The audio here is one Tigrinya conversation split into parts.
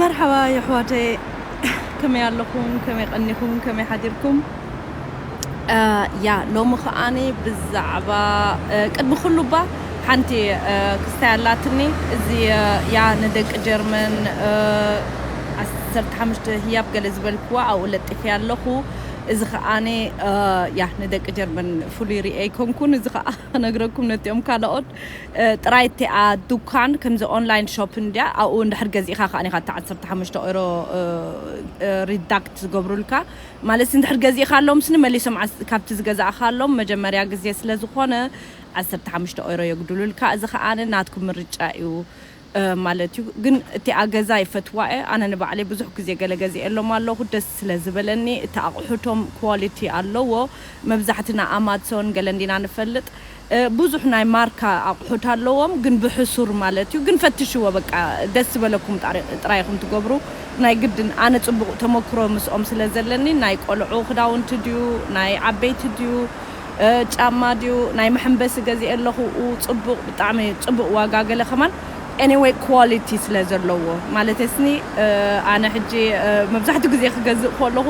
መርሓባ የሕዋተየ ከመይ ኣለኹም ከመይ ቀኒኹም ከመይ ሓዲርኩም ያ ሎሚ ከኣኒ ብዛዕባ ቅድሚ ኩሉ እባ ሓንቲ ክስታይ ኣላትኒ እዚ ያ ንደቂ ጀርመን ዓሰርተ ሓሙሽተ ህያብ ገለ ዝበልክዋ ኣብኡ ለጢፈያ ኣለኹ እዚ ከኣኒ ያ ንደቂ ጀርመን ፍሉይ ርእየ ኣይኮንኩን እዚ ከኣ ክነግረኩም ነቲኦም ካልኦት ጥራይ እቲኣ ዱካን ከምዚ ኦንላይን ሾፕን ድያ ኣብኡ እንድሕር ገዚእካ ከኣ ኢካ እታ ዓሰርተ ሓሙሽተ ኦሮ ሪዳክት ዝገብሩልካ ማለትሲ እንድሕር ገዚእካሎምስኒ መሊሶም ካብቲ ዝገዛእካሎም መጀመርያ ግዜ ስለ ዝኮነ ዓሰርተ ሓሙሽተ ኦሮ የጉድሉልካ እዚ ከኣ ናትኩም ምርጫ እዩ ማለት እዩ ግን እቲኣ ገዛ ይፈትዋ እየ ኣነ ንባዕለይ ብዙሕ ግዜ ገለ ገዚኤሎም ኣለኩ ደስ ስለ ዝበለኒ እቲ ኣቁሑቶም ኳሊቲ ኣለዎ መብዛሕትና ኣማትሶን ገለን ዲና ንፈልጥ ብዙሕ ናይ ማርካ ኣቁሑት ኣለዎም ግን ብሕሱር ማለት እዩ ግን ፈትሽዎ በቃ ደስ ዝበለኩም ጥራይ ኢኩም ትገብሩ ናይ ግድን ኣነ ጽቡቅ ተመክሮ ምስኦም ስለ ዘለኒ ናይ ቆልዑ ክዳውንቲ ድዩ ናይ ዓበይቲ ድዩ ጫማ ድዩ ናይ መሐምበሲ ገዚኤ ኣለኹ ኡው ጽቡቅ ብጣዕሚ ጽቡቅ ዋጋ ገለ ከማን Anyway Quality ስለ ዘለዎ ማለተይስኒ ኣነ ሕጂ መብዛሕቱ ግዜ ክገዝእ ኮለኹ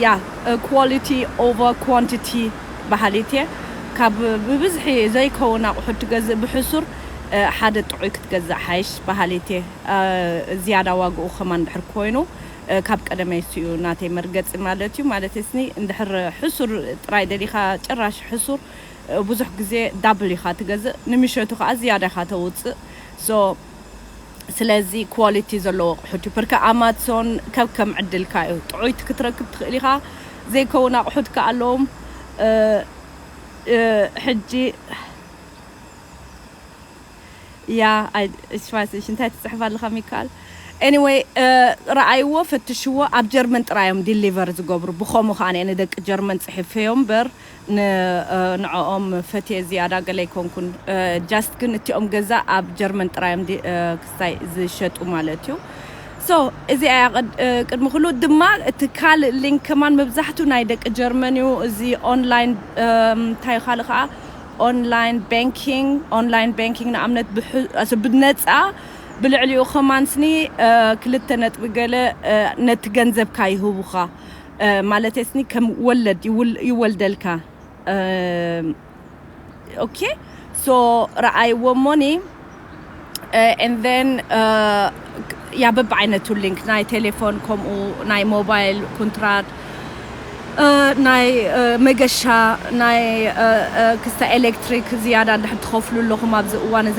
Yeah Quality Over Quantity በሃሊት እየ ካብ ብብዝሒ ዘይከውን ኣቁሑት ትገዝእ ብሕሱር ሓደ ጥዑይ ክትገዝእ ሓይሽ በሃሊት እየ ዝያዳ ዋግኡ ከማን ድሕር ኮይኑ ካብ ቀደመይስ እዩ ናተይ መርገጺ ማለት እዩ ማለተይስኒ እንድሕር ሕሱር ጥራይ ደሊኻ ጭራሽ ሕሱር ብዙሕ ግዜ ዳብል ኢኻ ትገዝእ ንምሸቱ ከኣ ዝያዳ ኢኻ ተውጽእ so ስለዚ quality ዘለዎ ኣቑሑት እዩ ፕርከ Amazon ከከም ዕድልካ እዩ ጥዑይቲ ክትረክብ ትኽእል ኢኻ ዘይከውን ኣቑሑት ከኣ ኣለዎም ሕጂ ያህ ኢች ፋይስ ኢች እንታይ ትጽሕፍ ኣለኻ ሚካል ኤኒወይ ረኣይዎ ፈትሽዎ ኣብ ጀርመን ጥራይ እዮም ዲሊቨር ዝገብሩ ብኸሙ ከኣ ኣነ ንደቂ ጀርመን ጽሒፈዮም እምበር ንዕኦም ፈትየ ዝያዳ ገለ ኣይኮንኩን ጃስት ግን እቲኦም ገዛ ኣብ ጀርመን ጥራይ እዮም ክስታይ ዝሸጡ ማለት እዩ ሶ እዚኣ እያ ቅድሚ ኩሉ ድማ እቲ ካልእ ሊንክ ከማን መብዛሕቱ ናይ ደቂ ጀርመን እዩ እዚ ኦንላይን እንታይ እዩ ካልእ ከኣ ኦንላይን ባንኪንግ፣ Online Banking፣ ንኣብነት ብነጻ ብልዕሊኡ ከማንስ ን ክልተ ነጥቢ ገለ ነቲ ገንዘብካ ይህቡኻ ማለተይስ ን ከም ወለድ ይወልደልካ ኦኬ ሶ ረኣይዎ እሞ ን and then ያ በብዓይነቱ ሊንክ ናይ ቴሌፎን ከምኡ ናይ ሞባይል ኩንትራት ናይ መገሻ ናይ ክስተ ኤሌክትሪክ ዝያዳ እንድሕር ትኸፍሉ ኣለኹም ኣብዚ እዋን እዚ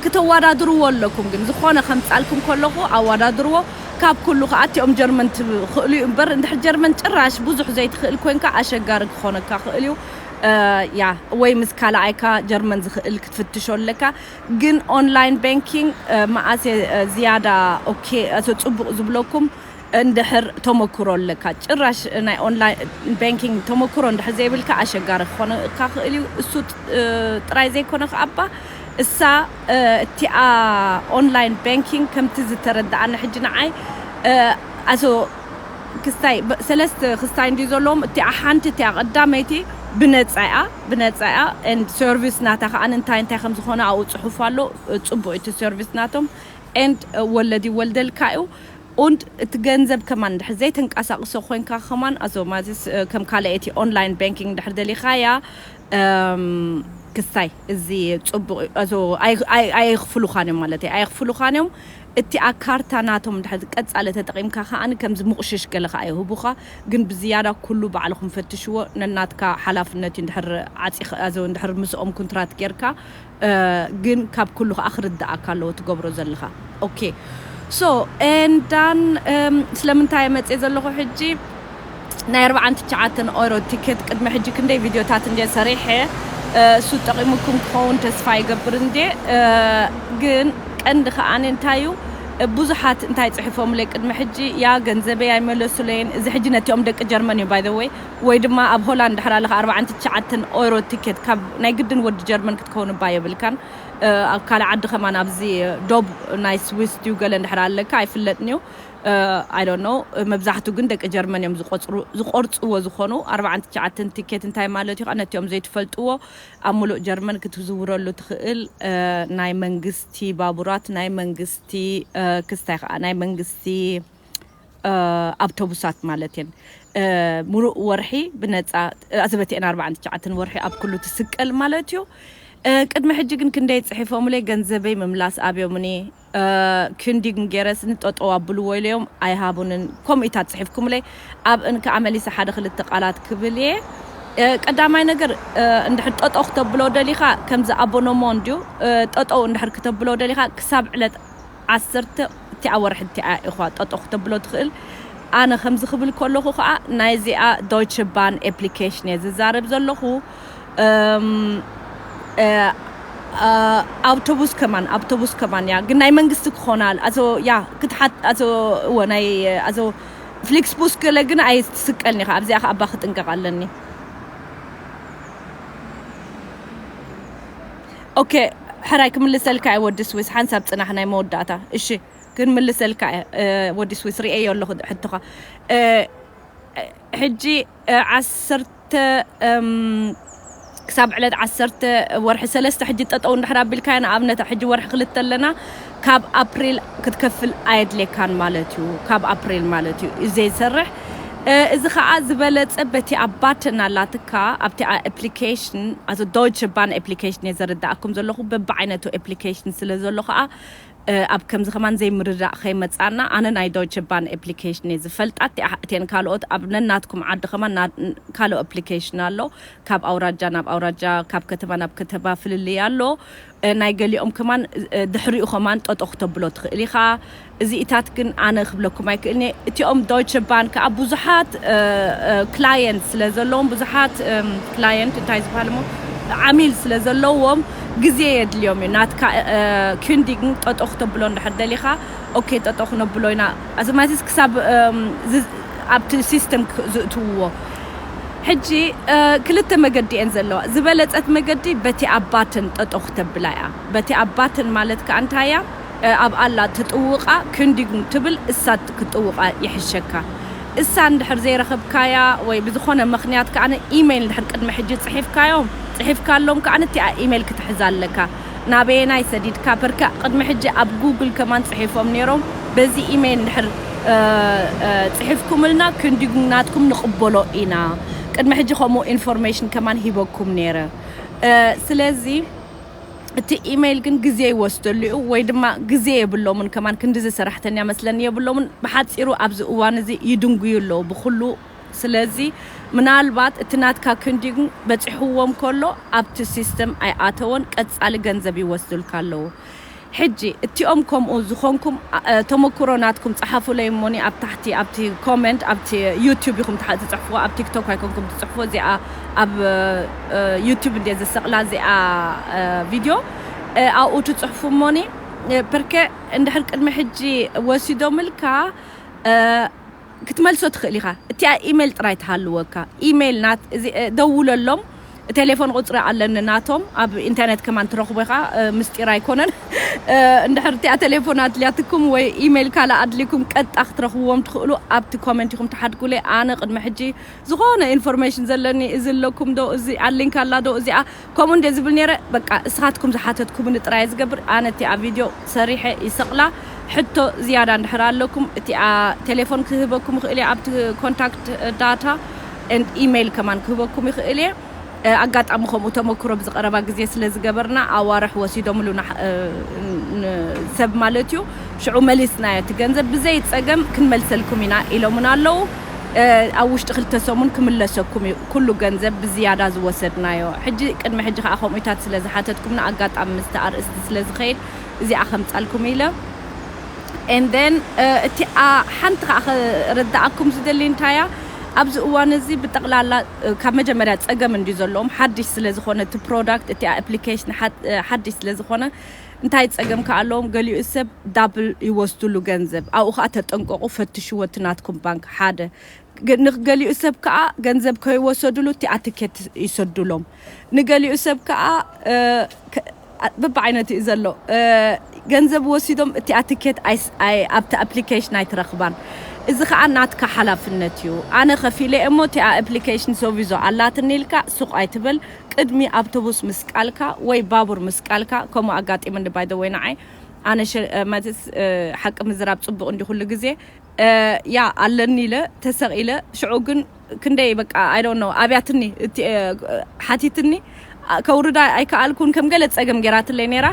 ክተወዳድርዎ ኣለኩም ግን ዝኾነ ከምጻልኩም ከለኹ ኣወዳድርዎ ካብ ኩሉ ከዓ እቲኦም ጀርመን ትኽእሉ እዩ እምበር እንድሕር ጀርመን ጭራሽ ብዙሕ ዘይትኽእል ኮንካ ኣሸጋሪ ክኾነካ ክእል እዩ እያ ወይ ምስ ካላኣይካ ጀርመን ዝክእል ክትፍትሾ ኣለካ ግን ኦንላይን ባንኪንግ መኣስ ዝያዳ ኦኬ ጽቡቅ ዝብለኩም እንድሕር ተመክሮ ኣለካ ጭራሽ ናይ ኦንላይን ባንኪንግ ተመክሮ እንድሕር ዘይብልካ ኣሸጋሪ ክኾነካ ክእል እዩ እሱ ጥራይ ዘይኮነ ከኣ እባ እሳ እቲኣ ኦንላይን ባንኪንግ ከምቲ ዝተረደኣኒ ሕጂ ንዓይ ኣሶ ክስታይ ሰለስተ ክስታይ እንድዩ ዘለዎም እቲኣ ሓንቲ እቲኣ ቀዳመይቲ ብነጻ እያ ብነጻ እያ and service ናታ ከኣ እንታይ እንታይ ከም ዝኮነ ኣብኡ ጽሑፍ ኣሎ ጽቡቅ እዩ እቲ service ናቶም and ወለድ ይወልደልካ እዩ und እቲ ገንዘብ ከማን እንድሕር ዘይተንቀሳቅሶ ኮንካ ከማን ኣዞማዝስ ከም ካልኣይቲ online banking እንድሕር ደሊካያ um ክስታይ እዚ ጽቡቅ እዩ ኣዞ ኣይ ኣይ ኣይክፍሉካን እዮም ማለተይ ኣይክፍሉካን እዮም እቲኣ ካርታ ናቶም ድሕሪ ቀጻሊ ተጠቂምካ ከኣ ከም ዝምቁሽሽ ገለ ከኣ ይህቡኻ ግን ብዝያዳ ኩሉ ባዕልኹም ፈትሽዎ ነናትካ ሓላፍነት እዩ ድሕሪ ዓጺኻ ድሕሪ ምስኦም ኩንትራት ጌርካ ግን ካብ ኩሉ ከኣ ክርድኣካ ኣለዎ ትገብሮ ዘለኻ ኦኬ ሶ and done ስለምንታይ እየ መጽየ ዘለኹ ሕጂ ናይ ኣርብዓን ትሽዓተን ኦሮ ቲኬት ቅድሚ ሕጂ ክንደይ ቪድዮታት እንድየ ሰሪሐ እሱ ጠቒሙኩም ክኸውን ተስፋ ይገብር እንድየ ግን ቀንዲ ከኣ እንታይ እዩ ብዙሓት እንታይ ጽሒፎምለይ ቅድሚ ሕጂ ያ ገንዘበይ ኣይመለሱለይን እዚ ሕጂ ነቲኦም ደቂ ጀርመን እዩ ባይ ወይ ወይ ድማ ኣብ ሆላንድ ድሕር ኣለካ ኣርብዓን ትሽዓተን ኦሮ ቲኬት ካብ ናይ ግድን ወዲ ጀርመን ክትከውን እባ የብልካን ኣብ ካልእ ዓዲ ከማን ኣብዚ ዶብ ናይ ስዊስ ድዩ ገለ እንድሕር ኣለካ ኣይፍለጥን እዩ I don't know መብዛሕቱ ግን ደቂ ጀርመን እዮም ዝቆጽሩ ዝቆርጽዎ ዝኮኑ ኣርብዓን ትሽዓተን ቲኬት እንታይ ማለት እዩ ከኣ ነቲኦም ዘይትፈልጥዎ ኣብ ምሉእ ጀርመን ክትዝውረሉ ትክእል ናይ መንግስቲ ባቡራት ናይ መንግስቲ ክስታይ ከኣ ናይ መንግስቲ ኣብቶቡሳት ማለት እየን ምሉእ ወርሒ ብነጻ ኣዘበቲኤን ኣርብዓን ትሽዓተን ወርሒ ኣብ ኩሉ ትስቀል ማለት እዩ ቅድሚ ሕጂ ግን ክንደይ ጽሒፎምለይ ገንዘበይ ምምላስ ኣብዮምኒ ክንዲግም ጌረስኒ ጠጠው ኣብልዎ ኢለዮም ኣይሃቡንን ከምኡ ኢታት ጽሒፍኩምለይ ኣብ እን ከኣ መሊሰ ሓደ ክልተ ቃላት ክብል ኢየ ቀዳማይ ነገር እንድሕር ጠጠው ክተብሎ ደሊኻ ከምዚ ኣቦኖሞ እንድዩ ጠጠው እንድሕር ክተብሎ ደሊኻ ክሳብ ዕለት ዓሰርተ እቲኣ ወርሒ እቲኣ ኢዃ ጠጠው ክተብሎ ትኽእል ኣነ ከምዚ ክብል ከለኹ ከኣ ናይ እዚኣ ዶይቸ ባን ኤፕሊኬሽን ኢየ ዝዛረብ ዘለኹ ኣውቶቡስ ከማን ኣውቶቡስ ከማን ያ ግን ናይ መንግስቲ ክኾና ኣዞ ያ ክትሓት ኣዞ እወ ናይ ኣዞ ፍሊክስ ቡስ ገለ ግን ኣይ ትስቀልኒ ኸ ኣብዚኣ ኸ ኣባ ክጥንቀቕ ኣለኒ ኦኬ ሕራይ ክምልሰልካ እየ ወዲ ስዊስ ሓንሳብ ፅናሕ ናይ መወዳእታ እሺ ግን ምልሰልካ እየ ወዲ ስዊስ ርኤዮ ኣለኹ ሕቶኻ ሕጂ ዓሰርተ ክሳብ ዕለት ዓሰርተ ወርሒ ሰለስተ ሕጂ ጠጠው እንድሕር ኣቢልካያ ንኣብነት ሕጂ ወርሒ ክልተ ኣለና ካብ ኣፕሪል ክትከፍል ኣየድልየካን ማለት እዩ ካብ ኣፕሪል ማለት እዩ እዩ ዘይሰርሕ እዚ ከዓ ዝበለጸ በቲ ኣብ ባተን ኣላትካ ኣብቲ ኣፕሊኬሽን ኣቶ ዶይቸ ባን ኣፕሊኬሽን እየ ዘረዳእኩም ዘለኹ በብዓይነቱ ኣፕሊኬሽን ስለ ዘሎ ከዓ ኣብ ከምዚ ከማን ዘይ ምርዳእ ከይ መጻና ኣነ ናይ ዶይቸ ባን ኤፕሊከሽን እየ ዝፈልጣ እቲኣ እተን ካልኦት ኣብ ነናትኩም ዓዲ ከማን ና ካልኦ ኣፕሊከሽን ኣሎ ካብ ኣውራጃ ናብ ኣውራጃ ካብ ከተማ ናብ ከተባ ፍልልይ ኣሎ ናይ ገሊኦም ከማን ድሕሪኡ ከማን ጠጦ ክተብሎ ትክእል ኢካ እዚኢታት ግን ኣነ ክብለኩም ኣይ ክእልን እየ እቲኦም ዶይቸ ባን ከኣ ብዙሓት ክላየንት ስለ ዘለዎም ብዙሓት ክላየንት እንታይ ዝበሃልሞ ዓሚል ስለ ዘለዎም ግዜ የድልዮም እዩ ናትካ ኪንዲግን ጠጠው ክተብሎ እንድሕር ደሊኻ ኦኬ ጠጠው ክነብሎ ኢና ኣዘማቲስ ክሳብ ኣብቲ ሲስተም ዝእትውዎ ሕጂ ክልተ መገዲ እየን ዘለዋ ዝበለጸት መገዲ በቲ ኣብ ባትን ጠጠው ክተብላ እያ በቲ ኣብ ባትን ማለት ከኣ እንታይ እያ ኣብ ኣላ ትጥውቃ ክንዲጉም ትብል እሳት ክትጥውቃ ይሕሸካ እሳ እንድሕር ዘይረኽብካያ ወይ ብዝኾነ ምኽንያት ከኣ ኢመይል እንድሕር ቅድሚ ሕጂ ጽሒፍካዮም ጽሒፍካሎም ከኣ እቲኣ ኢመይል ክትሕዛ ኣለካ ናበየናይ ሰዲድካ ፐርከ ቅድሚ ሕጂ ኣብ ጉግል ከማን ጽሒፎም ኔሮም በዚ ኢመይል እንድሕር ጽሒፍኩምልና ክንዲጉም ናትኩም ንቅበሎ ኢና ቅድሚ ሕጂ ከምኡ ኢንፎርሜሽን ከማን ሂበኩም ኔረ ስለዚ እቲ ኢመይል ግን ግዜ ይወስደሉ እዩ ወይ ድማ ግዜ የብሎምን ከማን ክንድዚ ሰራሕተኛ መስለኒ የብሎምን ብሓጺሩ ኣብዚ እዋን እዚ ይድንጉዩ ኣለዉ ብኹሉ ስለዚ ምናልባት እቲ ናትካ ክንዲን በጺሕዎም ከሎ ኣብቲ ሲስተም ኣይኣተወን ቀጻሊ ገንዘብ ይወስዱልካ ኣለዉ ሕጂ እቲኦም ከምኡ ዝኮንኩም ተመኩሮ ናትኩም ጸሓፉለይ እሞኒ ኣብ ታሕቲ ኣብቲ ኮመንት ኣብቲ ዩቱብ ኢኩም ትጽሕፍዎ ኣብ ቲክቶክ ኣይኮንኩም ትጽሕፍዎ እዚኣ ኣብ ዩቱብ እንድየ ዝሰቅላ እዚኣ ቪድዮ ኣብኡ ትጽሕፉ እሞኒ ፐርከ እንድሕር ቅድሚ ሕጂ ወሲዶምልካ ክትመልሶ ትኽእል ኢኻ እቲኣ ኢሜል ጥራይ ትሃልወካ ኢሜል ናት እዚ ደውለሎም ቴሌፎን ቁጽሪ ኣለኒ ናቶም ኣብ ኢንተርነት ከማን ትረኽቦ ኢኻ ምስጢር ኣይኮነን እንድሕር እቲኣ ቴሌፎን ኣድልያትኩም ወይ ኢሜል ካልእ ኣድልይኩም ቀጥታ ክትረኽብዎም ትኽእሉ ኣብቲ ኮመንት ኢኹም ትሓድጉለይ ኣነ ቅድሚ ሕጂ ዝኾነ ኢንፎርሜሽን ዘለኒ እዚ ኣለኩም ዶ እዚ ኣሊንክ ኣላ ዶ እዚኣ ከምኡ እንድየ ዝብል ኔረ በቃ እስኻትኩም ዝሓተትኩምኒ ጥራየ ዝገብር ኣነ እቲኣ ቪድዮ ሰሪሐ ይሰቅላ ሕቶ ዝያዳ እንድሕር ኣለኩም እቲኣ ቴሌፎን ክህበኩም ይኽእል እየ ኣብቲ ኮንታክት ዳታ and ኢመይል ከማን ክህበኩም ይኽእል እየ ኣጋጣሚ ከምኡ ተመክሮ ኣብዚ ቀረባ ግዜ ስለ ዝገበርና ኣዋርሕ ወሲዶምሉ ንሰብ ማለት እዩ ሽዑ መሊስናዮ እቲ ገንዘብ ብዘይ ጸገም ክንመልሰልኩም ኢና ኢሎሙና ኣለዉ ኣብ ውሽጢ ክልተ ሰሙን ክምለሰኩም እዩ ኩሉ ገንዘብ ብዝያዳ ዝወሰድናዮ ሕጂ ቅድሚ ሕጂ ከኣ ከምኡታት ስለ ዝሓተትኩምና ኣጋጣሚ ምስቲ ኣርእስቲ ስለ ዝከይድ እዚኣ ከምጻልኩም ኢለ and then እቲ ሓንቲ ከኣ ክርድኣኩም ዝደሊ እንታይ እያ ኣብዚ እዋን እዚ ብጠቕላላ ካብ መጀመርያ ጸገም እንድዩ ዘለዎም ሓድሽ ስለ ዝኾነ እቲ ፕሮዳክት እቲ ኣፕሊኬሽን ሓድሽ ስለ ዝኾነ እንታይ ጸገም ከ ኣለዎም ገሊኡ ሰብ ዳብል ይወስድሉ ገንዘብ ኣብኡ ከኣ ተጠንቀቁ ፈትሽዎ እቲ ናትኩም ባንክ ሓደ ንገሊኡ ሰብ ከኣ ገንዘብ ከይወሰድሉ እቲኣ ትኬት ይሰድሎም ንገሊኡ ሰብ ከኣ በብዓይነቱ እዩ ዘሎ ገንዘብ ወሲዶም እቲኣ ትኬት ኣብቲ ኣፕሊኬሽን ኣይትረክባን እዚ ከኣ ናትካ ሓላፍነት እዩ ኣነ ከፊለ እሞ እቲኣ ኣፕሊኬሽን ሶቪዞ ኣላትኒ ኢልካ ሱቅ ኣይትበል ቅድሚ ኣብቶቡስ ምስቃልካ ወይ ባቡር ምስቃልካ ከምኡ ኣጋጢሙኒ by the way ንዓይ ኣነ ማለትስ ሓቂ ምዝራብ ጽቡቅ እንድዩ ኩሉ ግዜ ያ ኣለኒ ኢለ ተሰቂለ ሽዑ ግን ክንደይ በቃ i don't know ኣብያትኒ ሓቲትኒ ከውርዳ ኣይከኣልኩን ከም ገለ ጸገም ጌራትለይ ኔራ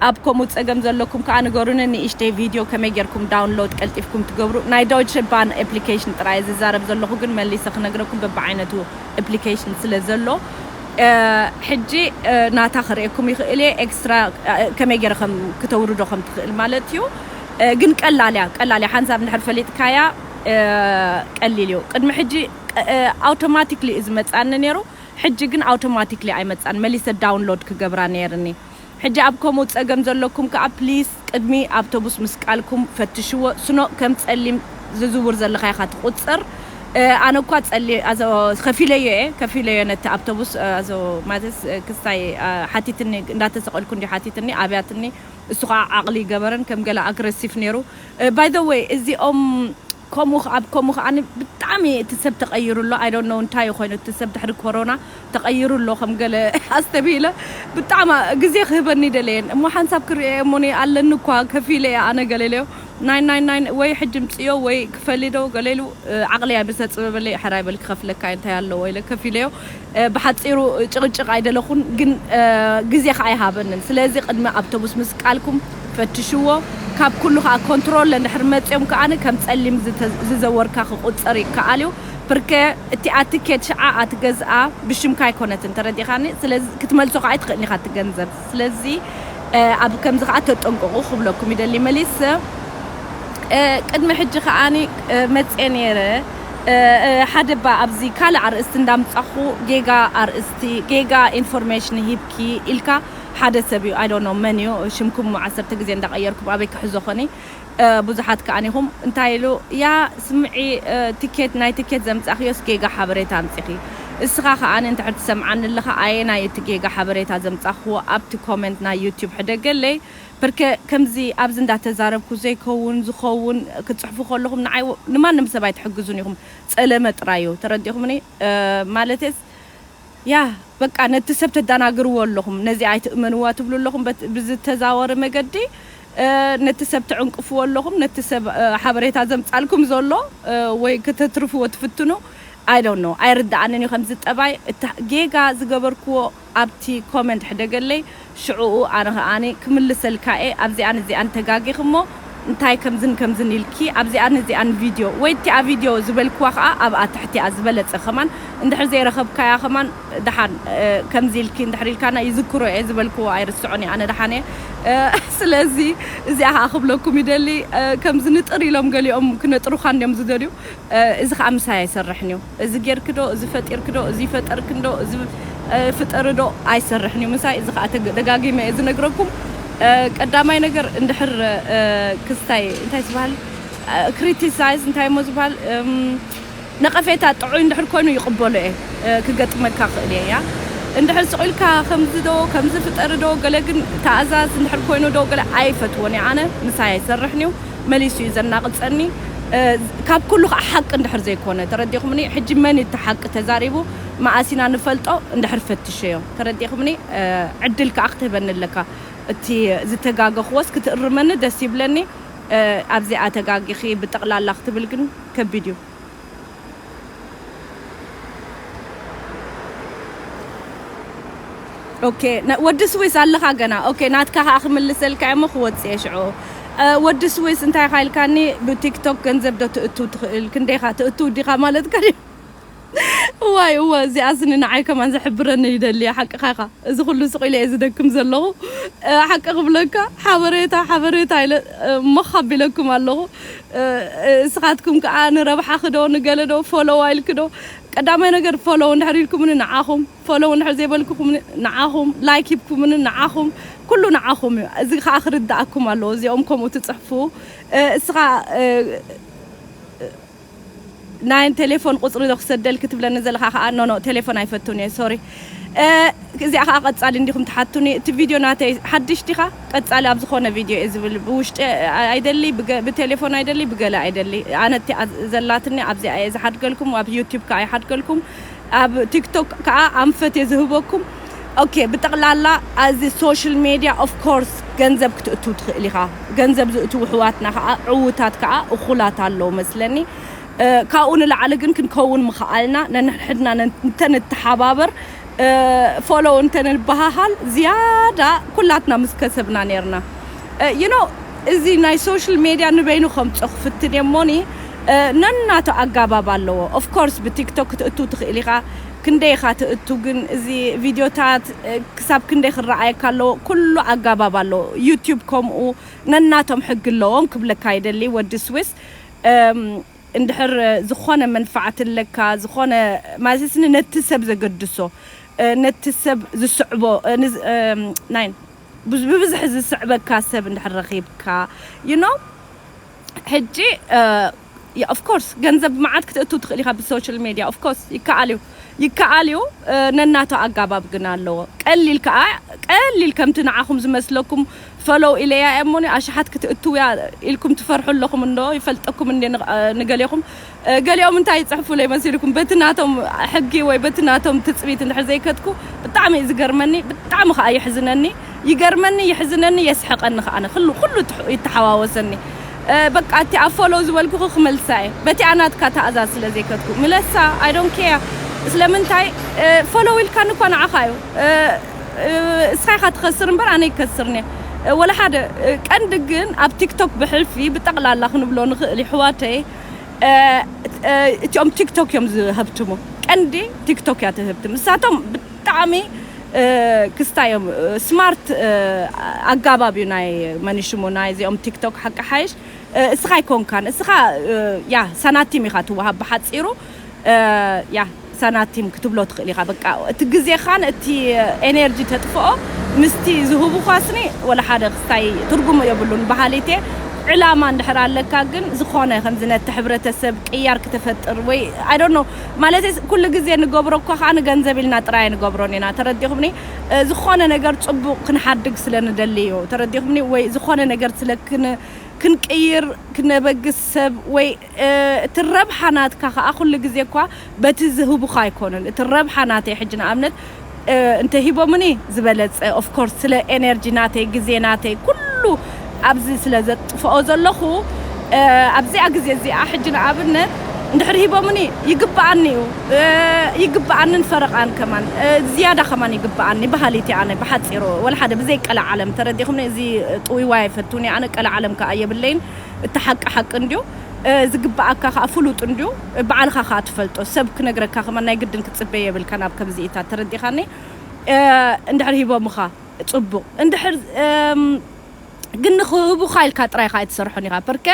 ኣብ ከምኡ ጸገም ዘለኩም ከኣ ንገሩኒ ንእሽተይ ቪድዮ ከመይ ጌርኩም ዳውንሎድ ቀልጢፍኩም ትገብሩ ናይ ዶይቸ ባን ኣፕሊኬሽን ጥራይ እየ ዝዛረብ ዘለኹ ግን መሊሰ ክነግረኩም በብዓይነቱ ኣፕሊኬሽን ስለ ዘሎ ሕጂ ናታ ከርእየኩም ይኽእል እየ ኤክስትራ ከመይ ጌረ ከም ክተውርዶ ከም ትኽእል ማለት እዩ ግን ቀላል እያ ቀላል እያ ሓንሳብ እንድሕር ፈሊጥካያ ቀሊል እዩ ቅድሚ ሕጂ ኣውቶማቲክሊ እዩ ዝመጽኣኒ ነይሩ ሕጂ ግን ኣውቶማቲክሊ ኣይመጽኣን መሊሰ ዳውንሎድ ክገብራ ነይርኒ ሕጂ ኣብ ከምኡ ጸገም ዘለኩም ከኣ ፕሊስ ቅድሚ ኣብቶቡስ ምስቃልኩም ፈትሽዎ ስኖ ከም ጸሊም ዝዝውር ዘለካ ኢካ ትቁጸር ኣነ እኳ ጸሊም ኣዞ ከፊለዮ እየ ከፊለዮ ነቲ ኣብቶቡስ ኣዞ ማዘስ ክስታይ ሓቲትኒ እንዳተሰቀልኩ እንድዩ ሓቲትኒ ኣብያትኒ እሱ ከኣ ዓቅሊ ይገበረን ከም ገለ ኣግረሲፍ ነይሩ ባይ ዘ ወይ እዚኦም ከምኡ ከኣ ብ ከምኡ ከኣ ብጣዕሚ እቲ ሰብ ተቀይሩ ኣሎ i don't know እንታይ እዩ ኮይኑ እቲ ሰብ ድሕሪ ኮሮና ተቀይሩ ኣሎ ከም ገለ ኣስተብሂለ ብጣዕሚ ግዜ ክህበኒ ደለየ እሞ ሓንሳብ ክርእዮ እሞ እኔ ኣለኒ እኳ ከፊለ እየ ኣነ ገለ ኢለዮ ናይ ናይ ናይ ወይ ሕጂ ምጽዮ ወይ ክፈሊ ዶ ገለ ኢሉ ዓቅለይ ኣይምሰጽበበለይ ሕራይ በል ክከፍለካ እየ እንታይ ኣለዎ ኢለ ከፊለዮ ብሓጺሩ ጭቕጭቕ ኣይደለኹን ግን ግዜ ከኣ ኣይሃበንን ስለዚ ቅድሚ ኣብቶቡስ ምስቃልኩም ፈትሽዎ ካብ ኩሉ ከኣ ኮንትሮለ እንድሕር መጽዮም ከኣ ከም ጸሊም ዝዘወርካ ክቁጸር ይከኣል እዩ ፕርከ እቲኣ ትኬት ሽዓ ኣትገዝኣ ብሽምካ ኣይኮነትን ተረዲእካኒ ስለዚ ክትመልሶ ከኣ ኣይትኽእልን ኢኻ እቲ ገንዘብ ስለዚ ኣብ ከምዚ ከኣ ተጠንቀቁ ክብለኩም ይደሊ መሊሰ ቅድሚ ሕጂ ከኣ መጼ ኔረ ሓደ እባ ኣብዚ ካልእ ኣርእስቲ እንዳምጻኹ ጌጋ ኣርእስቲ ጌጋ ኢንፎርሜሽን ሂብኪ ኢልካ ሓደ ሰብ እዩ i don't know መን እዩ ሽምኩም ዓሰርተ ግዜ እንዳቀየርኩም ኣበይ ክሕዞ ኮን ቡዙሓት ከኣ ኢኹም እንታይ ኢሉ እያ ስምዒ ትኬት ናይ ትኬት ዘምጻኽዮስ ጌጋ ሓበሬታ ኣምጺኺ እስኻ ከኣ እንድሕር ትሰምዓኒ ኣለኻ ኣየናይ እዩ እቲ ጌጋ ሓበሬታ ዘምጻኽክዎ ኣብቲ ኮመንት ናይ ዩቱብ ሕደገለይ ፕርከ ከምዚ ኣብዚ እንዳ ተዛረብኩ ዘይከውን ዝኸውን ክትጽሕፉ ከለኹም ንዓይ ንማንም ሰብ ኣይትሕግዙን ኢኹም ጸለመ ጥራይ እዩ ተረዲእኹምኒ ማለተይስ ያህ በቃ ነቲ ሰብ ተዳናግርዎ ኣለኹም ነዚኣ ኣይትእመንዋ ትብሉ ኣለኹም በት ብዝተዛወሪ መገዲ ነቲ ሰብ ትዕንቅፍዎ ኣለኹም ነቲ ሰብ ሓበሬታ ዘምጻልኩም ዘሎ ወይ ከተትርፍዎ ትፍትኑ ኣይ ዶንት ኖው ኣይርድኣንን እዩ ከምዚ ጠባይ እታ ጌጋ ዝገበርክዎ ኣብቲ ኮመንት ሕደገለይ ሽዕኡ ኣነ ከኣ ክምልሰልካ'የ ኣብዚኣን እዚኣን ተጋጊኺ'ሞ እንታይ ከምዝን ከምዝን ኢልኪ ኣብዚኣን እዚኣን ቪድዮ ወይ እቲኣ ቪድዮ ዝበልክዋ ከኣ ኣብኣ ትሕቲኣ ዝበለጸ ከማን እንድሕር ዘይረኸብካያ ከማን ደሓን ከምዚ ኢልኪ እንድሕር ኢልካና ይዝክሮ'የ ዝበልክዎ ኣይርስዖን'የ ኣነ ደሓን'የ ስለዚ እዚኣ ከኣ ክብለኩም ይደሊ ከምዚ ንጥር ኢሎም ገሊኦም ክነጥሩኻ እንድዮም ዝደልዩ እዚ ከኣ ምሳይ ኣይሰርሕን እዩ። እዚ ጌርኪ ዶ እዚ ፈጢርኪ ዶ እዚ ፈጠርኪ እንዶ እዚ ፍጠሪ ዶ ኣይሰርሕን እዩ ምሳይ እዚ ከኣ ደጋጊመ እየ ዝነግረኩም ቀዳማይ ነገር እንድሕር ክስታይ እንታይ ዝባሃል ክሪቲሳይዝ እንታይ እሞ ዝባሃል ነቐፌታ ጥዑይ እንድሕር ኮይኑ ይቕበሎ እየ ክገጥመካ ክእል እየ እያ እንድሕር ስቕ ኢልካ ከምዚ ዶ ከምዚ ፍጠሪ ዶ ገለ ግን ተኣዛዝ እንድሕር ኮይኑ ዶ ገለ ኣይፈትዎን እየ ኣነ ምሳይ ኣይሰርሕን እዩ መሊሱ እዩ ዘናቅጸኒ ካብ ኩሉ ከኣ ሓቂ እንድሕር ዘይኮነ ተረዲኩምኒ ሕጂ መን እዩ እቲ ሓቂ ተዛሪቡ መኣስ ኢና ንፈልጦ እንድሕር ፈትሸዮ ተረዲክምኒ ዕድል ከኣ ክትህበኒ ኣለካ እቲ ዝተጋገክዎስ ክትእርመኒ ደስ ይብለኒ ኣብዚኣ ተጋጊኪ ብጠቅላላ ክትብል ግን ከቢድ እዩ። ኦኬ ወዲ ስዊስ ኣለኻ ገና ኦኬ ናትካ ከኣ ክምልሰልካ እሞ ክወጽእ እየ ሽዑ ወዲ ስዊስ እንታይ ኢኻ ኢልካኒ ብቲክቶክ ገንዘብ ዶ ትእቱ ትኽእል ክንደይኻ ትእቱ ዲኻ ማለት ከ እዋይ እወ እዚኣ ስኒ ንዓይ ከማን ዘሕብረኒ ይደልየ ሓቅኻ ኢኻ እዚ ኩሉ ስቕ ኢለ እየ ዝደክም ዘለኹ ሓቂ ክብለካ ሓበሬታ ሓበሬታ ኢለ ሞኽ ኣቢለኩም ኣለኹ እስኻትኩም ከኣ ንረብሓኺ ዶ ንገለ ዶ ፎሎው ኢልኪ ዶ ቀዳማይ ነገር ፎሎው እንድሕር ኢልኩምኒ ንዓኹም ፎሎው እንድሕር ዘይበልኩኹምኒ ንዓኹም ላይክ ሂብኩምኒ ንዓኹም ኩሉ ንዓኹም እዩ እዚ ከኣ ክርድኣኩም ኣለዎ እዚኦም ከምኡ ትጽሕፉ እስኻ ናይ ቴሌፎን ቁጽሪ ዶ ክሰደልኪ ትብለኒ ዘለካ ከኣ no no ቴሌፎን ኣይፈቱን እየ ሶሪ እዚኣ ከኣ ቀጻሊ እንዲኩም ትሓቱኒ እቲ ቪድዮ ናተይ ሓድሽ ዲካ ቀጻሊ ኣብ ዝኮነ ቪድዮ እየ ዝብል ብውሽጢ ኣይደሊ ብቴሌፎን ኣይደሊ ብገለ ኣይደሊ ኣነ እቲኣ ዘላትኒ ኣብዚኣ እየ ዝሓድገልኩም ኣብ ዩቱብ ከኣ ይሓድገልኩም ኣብ ቲክቶክ ከኣ ኣንፈት እየ ዝህበኩም ኦኬ ብጠቅላላ ኣዚ ሶሽል ሜድያ ኦፍ ኮርስ ገንዘብ ክትእቱ ትክእል ኢካ ገንዘብ ዝእትዉ ኣሕዋትና ከኣ ዕዉታት ከኣ እኩላት ኣለዉ መስለኒ ካብኡ ንላዕሊ ግን ክንከዉን ምከኣልና ነንሕድሕድና እንተ ንተሓባበር ፎሎው እንተ ንበሃሃል ዝያዳ ኩላትና ምስ ከሰብና ኔርና You know እዚ ናይ ሶሽል ሜድያ ንበይኑ ከምጾ ክፍትን እየ እሞኒ ነናቱ ኣጋባብ ኣለዎ of course ብቲክቶክ ክትእትው ትክእል ኢካ ክንደይ ኢካ ትእቱ ግን እዚ ቪድዮታት ክሳብ ክንደይ ክረኣየካ ኣለዎ ኩሉ ኣጋባብ ኣለዎ ዩቱብ ከምኡ ነናቶም ሕጊ ኣለዎም ክብለካ ይደሊ ወዲ ስዊስ እንድሕር ዝኮነ መንፋዓት ኣለካ ዝኮነ ማለትስኒ ነቲ ሰብ ዘገድሶ ነቲ ሰብ ዝስዕቦ ናይ ብብዝሒ ዝስዕበካ ሰብ እንድሕር ረኺብካ you know ሕጂ እ of course ገንዘብ መዓት ክትእቱ ትኽእል ኢኻ ብ social media of course ይከኣል እዩ ይከኣል እዩ ነናቱ ኣጋባብ ግን ኣለዎ ቀሊል ከኣ ቀሊል ከምቲ ንዓኹም ዝመስለኩም follow ኢለያ እያ እሞኒ ኣሽሓት ክትእትውያ ኢልኩም ትፈርሑ ኣለኹም እንዶ ይፈልጠኩም እንድየ ንገሌኹም ገሊኦም እንታይ ይጽሕፉለይ መሲልኩም በቲ ናቶም ሕጊ ወይ በቲ ናቶም ትጽቢት እንድሕር ዘይከድኩ ብጣዕሚ እዩ ዝገርመኒ ብጣዕሚ ከኣ የሕዝነኒ ይገርመኒ የሕዝነኒ የስሕቀኒ ከኣ ኩሉ ኩሉ ይተሓዋወሰኒ በቃ እቲ ኣብ ፎሎው ዝበልኩኺ ክመልሳ እየ በቲኣ ናትካ ትእዛዝ ስለ ዘይከድኩ ምለሳ ኣይ ዶንት ኬር ስለምንታይ ፎሎው ኢልካኒ እኳ ንዓኻ እዩ እስኻ ኢኻ ትኸስር እምበር ኣነ ይከስርን እየ ወላ ሓደ ቀንዲ ግን ኣብ ቲክቶክ ብሕልፊ ብጠቕላላ ክንብሎ ንኽእል ይሕዋተይ እቲኦም ቲክቶክ እዮም ዝህብትሙ ቀንዲ ቲክቶክ እያ ትህብትም ንሳቶም ብጣዕሚ ክስታይ እዮም ስማርት ኣጋባብ እዩ ናይ መንሽሙ ናይ እዚኦም ቲክቶክ ሓቂ ሓይሽ እስኻ ኣይኮንካን እስኻ ያ ሳናቲም ኢኻ ትወሃብ ብሓፂሩ ያህ ሳናቲም ክትብሎ ትኽእል ኢኻ በቃ እቲ ግዜኻን እቲ ኤነርጂ ተጥፍኦ ምስቲ ዝህቡኻ ስኒ ወላ ሓደ ክስታይ ትርጉም የብሉን በሃሊት እየ ዕላማ እንድሕር ኣለካ ግን ዝኾነ ከምዚ ነቲ ሕብረተሰብ ቅያር ክተፈጥር ወይ ኣይ ዶንት ኖው ማለተይ ኩሉ ግዜ ንገብሮ እኳ ከኣ ንገንዘብ ኢልና ጥራይ ኣይንገብሮን ኢና ተረዲኹምኒ ዝኾነ ነገር ጽቡቕ ክንሓድግ ስለ ንደሊ እዩ ተረዲኹምኒ ወይ ዝኾነ ነገር ስለ ክንቅይር ክነበግስ ሰብ ወይ እቲ ረብሓ ናትካ ከኣ ኩሉ ግዜ እኳ በቲ ዝህቡኻ ኣይኮኑን እቲ ረብሓ ናተይ ሕጂ ንኣብነት እንተ ሂቦምኒ ዝበለጸ of course ስለ ኤነርጂ ናተይ ግዜ ናተይ ኩሉ ኣብዚ ስለ ዘጥፍኦ ዘለኹ ኣብዚኣ ግዜ እዚኣ ሕጂ ንኣብነት እንድሕር ሂቦምኒ ይግብኣኒ እዩ ይግብኣንን ፈረቃን ከማን ዝያዳ ከማን ይግብኣኒ በሃሊት እየ ኣነ ብሓጺሩ ወላ ሓደ ብዘይ ቀላዓለም ተረዲእኹምኒ እዚ ጥውይዋይ ኣይፈቱን እየ ኣነ ቀላዓለም ከኣ የብለይን እቲ ሓቂ ሓቂ እንድዮ፣ ዝግብኣካ ከኣ ፍሉጥ እንድዮ፣ ብዓልኻ ከኣ ትፈልጦ፣ ሰብ ክነግረካ ከማን ናይ ግድን ክትጽበ የብልካን ኣብ ከምዚኢታት ተረዲኻኒ እንድሕር ሂቦምኻ ጽቡቕ እንድሕር ግን ንኽህቡኻ ኢልካ ጥራይ ከኣ ኣይትሰርሖን ኢኻ ፐርከ